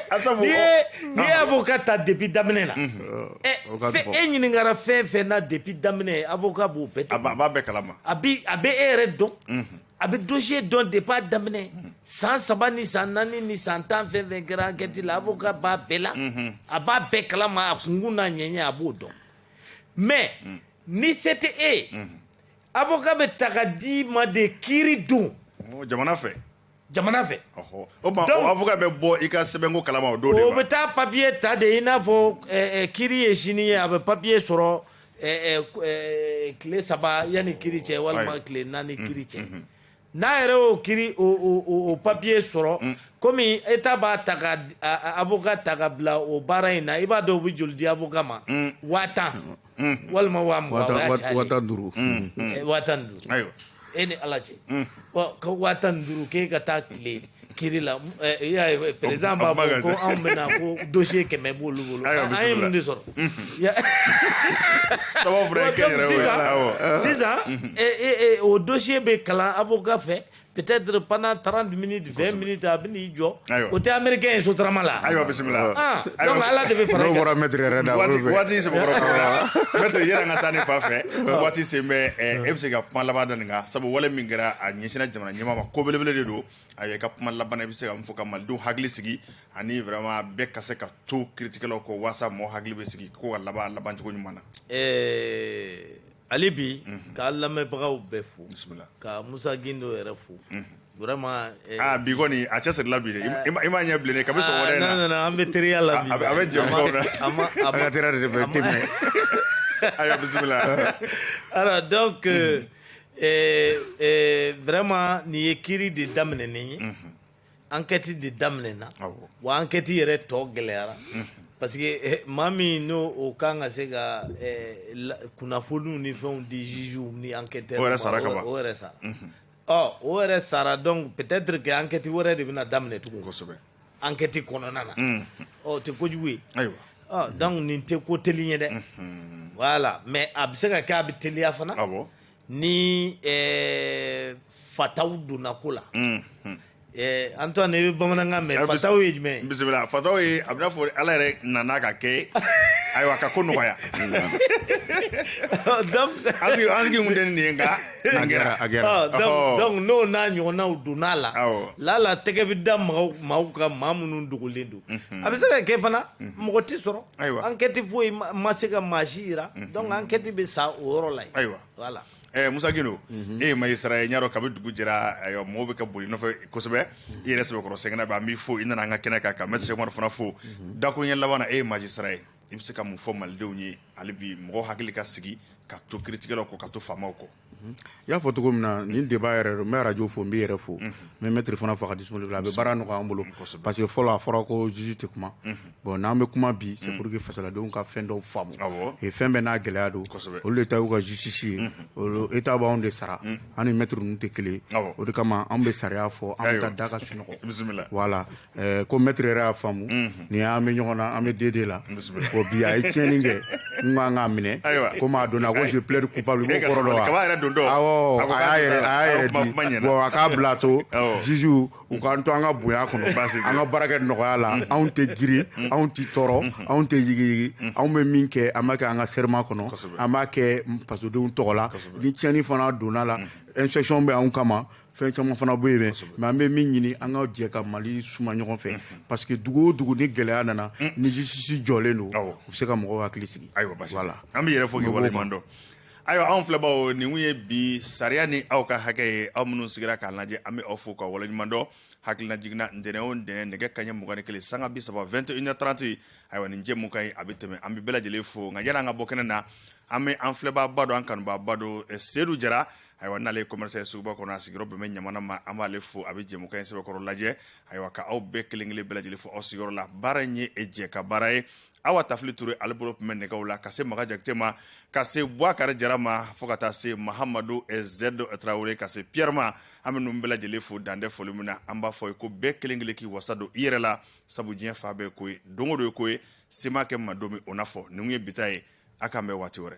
a sabu n'i ye n'i ye avocat ta depuis daminɛ na ɛ e ɲininkara fɛn fɛn na depuis daminɛ avocat b'o bɛɛ a b'a bɛɛ kalama a bi a bɛ e yɛrɛ dɔn a bɛ dossier dɔn depuis a daminɛ san saba ni san naani ni san tan fɛn fɛn kɛra enquête la avocat b'a bɛɛ la a b'a bɛɛ kalama a kunkun n'a ɲɛɲɛ a b'o dɔn mais ni se tɛ e ye avocat bɛ ta ka d'i ma de kiiri don jamana fɛ jamana fɛ o avocat bɛ bɔ i ka sɛbɛnko kalama o don o bɛ taa papier ta de i n'a fɔ kiiri ye sini ye a bɛ papier sɔrɔ tile saba yanni kiri cɛ walima tile naani kiri cɛ n'a yɛrɛ y'o kiri o papier sɔrɔ komi État b'a ta ka avocat ta ka bila o baara in na i b'a dɔn u bɛ joli di avocat ma waa tan walima waa mugan waa tan duuru waa tan duuru e ni ala cɛ ka waa tan duuru k'e ka taa tile ki la perez b'a fɔ ko anw bɛna ko dosi kɛmɛ b' olu bolo an ye mun de sɔrɔ sisan o dosi bɛ kalan a fɔ ga kɔfɛ pte pan taara dumuni fɛn mini ta a bɛ'i jɔ o tɛ américain ye sotarama la ayiwa bisimila ala de bɛ fara i kan bɔra maître yɛrɛ da waati maître yɛrɛ ka taa ni fa fɛ waati sen bɛ e bɛ se ka kuma laban da nin kan sabu wale min kɛra a ɲɛsinna jamana ɲɛmaa ma ko belebele de don a i ka kuma laban i bɛ se ka mun fɔ ka malidenw hakili sigi ani vraiment bɛɛ ka se ka to kiritigɛlaw kɔ walasa mɔgɔ hakili bɛ sigi ko ka laban labancogo ɲuman na hali bi k'a lamɛnbagaw bɛɛ fo ka Musa Gindo yɛrɛ fo vraiment bi kɔni a cɛsirila bi dɛ i m'a ɲɛ bilen kabi sɔgɔma an bɛ teriya la a bɛ jɛ ayiwa bisimila alors donc vraiment nin ye kiri de daminɛnen ye enquête de daminɛna wa enquête yɛrɛ tɔ gɛlɛyara parce que maa min n'o o ka kan ka se ka kunnafoniw ni fɛnw di juges ni enquêteurs o sara o yɛrɛ sara ɔ o yɛrɛ sara donc peut-être que enquête wɛrɛ de bɛna daminɛ tugun kosɛbɛ enquête kɔnɔna na o tɛ kojugu ye ayiwa donc nin tɛ ko teli ye dɛ voilà mais a bɛ se ka kɛ a bɛ teliya fana ni eh, fataw donna ko la mm, mm. Eh, Antoine i bɛ bamanankan mɛn eh, fataw ye jumɛn ye bisimila fataw ye a bɛ n'a fɔ Ala yɛrɛ nana ka kɛ ayiwa ka ko nɔgɔya an sigi kun tɛ nin ye nka a kɛra a kɛra ah, donc n'o n'a ɲɔgɔnnaw donna a la lala tɛgɛ bɛ da maaw kan maa minnu dogolen don mhm. a bɛ se ka kɛ fana mhm. mɔgɔ tɛ sɔrɔ Ayiwa enquête foyi ma se ka maa si jira donc enquête bɛ sa o yɔrɔ la yen ayiwa voilà Musa Gindo e ye magistrat ye n y'a dɔn kabi dugu jɛra ayiwa maaw bɛ ka boli nɔfɛ kosɛbɛ i yɛrɛ sɛbɛkɔrɔ sɛgɛnna bi an b'i fo i nana an ka kɛnɛ kan ka maître Cheikh Umaru fana fo dakuruɲɛ laban na e ye magistrat ye i bɛ se ka mun fɔ malidenw ye hali bi mɔgɔw hakili ka sigi ka to kiritigɛlaw kɔ ka to faamaw kɔ Mhm. I y'a fɔ cogo min na nin débat yɛrɛ don n bɛ radio fo n b'i yɛrɛ fo mhm. n bɛ maître fana fo ka disponible a bɛ baara nɔgɔya an bolo parce que fɔlɔ a fɔra ko juge tɛ kuma mhm. bon n'an bɛ kuma bi c'est pour que fasodenw ka fɛn dɔw faamu fɛn bɛɛ n'a gɛlɛya don olu de ta y'u ka justice ye État b'anw de sara an ni maître ninnu tɛ kelen o de kama an bɛ sariya fɔ an bɛ taa da ka sunɔgɔ voilà Ɛɛ ko maître yɛrɛ y'a faamu. Unhun. Ni an bɛ ɲɔgɔn na, an bɛ D de la. Bisimila. Ko bi a ye tiɲɛni kɛ, n kan k'a minɛ. Ayiwa. Komi a donna ko je plaide coupable n ko E b'o kɔrɔ dɔn wa? sabali, kaba yɛrɛ dontɔ. Awɔ, A ko a k'a y'a yɛrɛ, a y'a yɛrɛ kuma- di. kuma ɲɛna. Bon a k'a bila a to Awɔ. juges u k'an to an ka bonya kɔnɔ. Baasi tɛ. An ka baara kɛ nɔgɔya la. Anw tɛ girin, anw tɛ tɔɔrɔ, anw tɛ yigiyigi. Anw bɛ min kɛ, an b'a kɛ an ka serment kɔnɔ. Kosɛbɛ. An b'a kɛ fasodenw tɔgɔ la. Kosɛbɛ. Ni tiɲɛni fana donna la, inspection bɛ anw kama. fɛn caman fana bɛ yen mais an bɛ min ɲini an ka jɛ ka Mali suma ɲɔgɔn fɛ parce que dugu o dugu ni gɛlɛya nana ni justice jɔlen don u bɛ se ka mɔgɔw hakili sigi ayiwa baasi tɛ an b'i yɛrɛ fo k'i waleɲuman dɔn ayiwa anw filɛbaaw nin tun ye bi sariya ni aw ka hakɛ ye aw minnu sigira k'a lajɛ an bɛ aw fo k'aw waleɲuman dɔn hakilinajigin na ntɛnɛn o ntɛnɛn nɛgɛ kaɲɛ mugan ni kelen sanga bi saba 21h30 ayiwa nin jɛmukan in a bɛ tɛmɛ an bɛ bɛɛ lajɛlen fo nka yanni an ka bɔ kɛnɛ na an bɛ an filɛbaaba dɔ an kanubaaba dɔ Sedu Jara ayiwa n'ale ye commerçant ye suguba kɔnɔ a sigiyɔrɔ bɛn bɛ ɲamana ma an b'ale fo a bɛ jɛmukan in sɛbɛkɔrɔ lajɛ ayiwa ka aw bɛɛ kelen kelen bɛɛ lajɛlen fo aw sigiyɔrɔ la baara in ye jɛkabaara ye awa tafili ture ale bolo tun bɛ nɛgɛw la ka se maga jakite ma ka se buwakari jara ma fo ka taa se mahamadu eh, zɛdo tarawele ka se piyɛrɛ ma an bɛ ninnu bɛɛ lajɛlen fo dan tɛ foli min na an b'a fɔ ye ko bɛɛ kelen kelen k'i wasa don i yɛrɛ la sabu diɲɛ fan bɛɛ ko ye don o don ye ko ye se ma kɛ ma don min o n'a fɔ nin ye bi ta ye a k'an bɛn waati wɛrɛ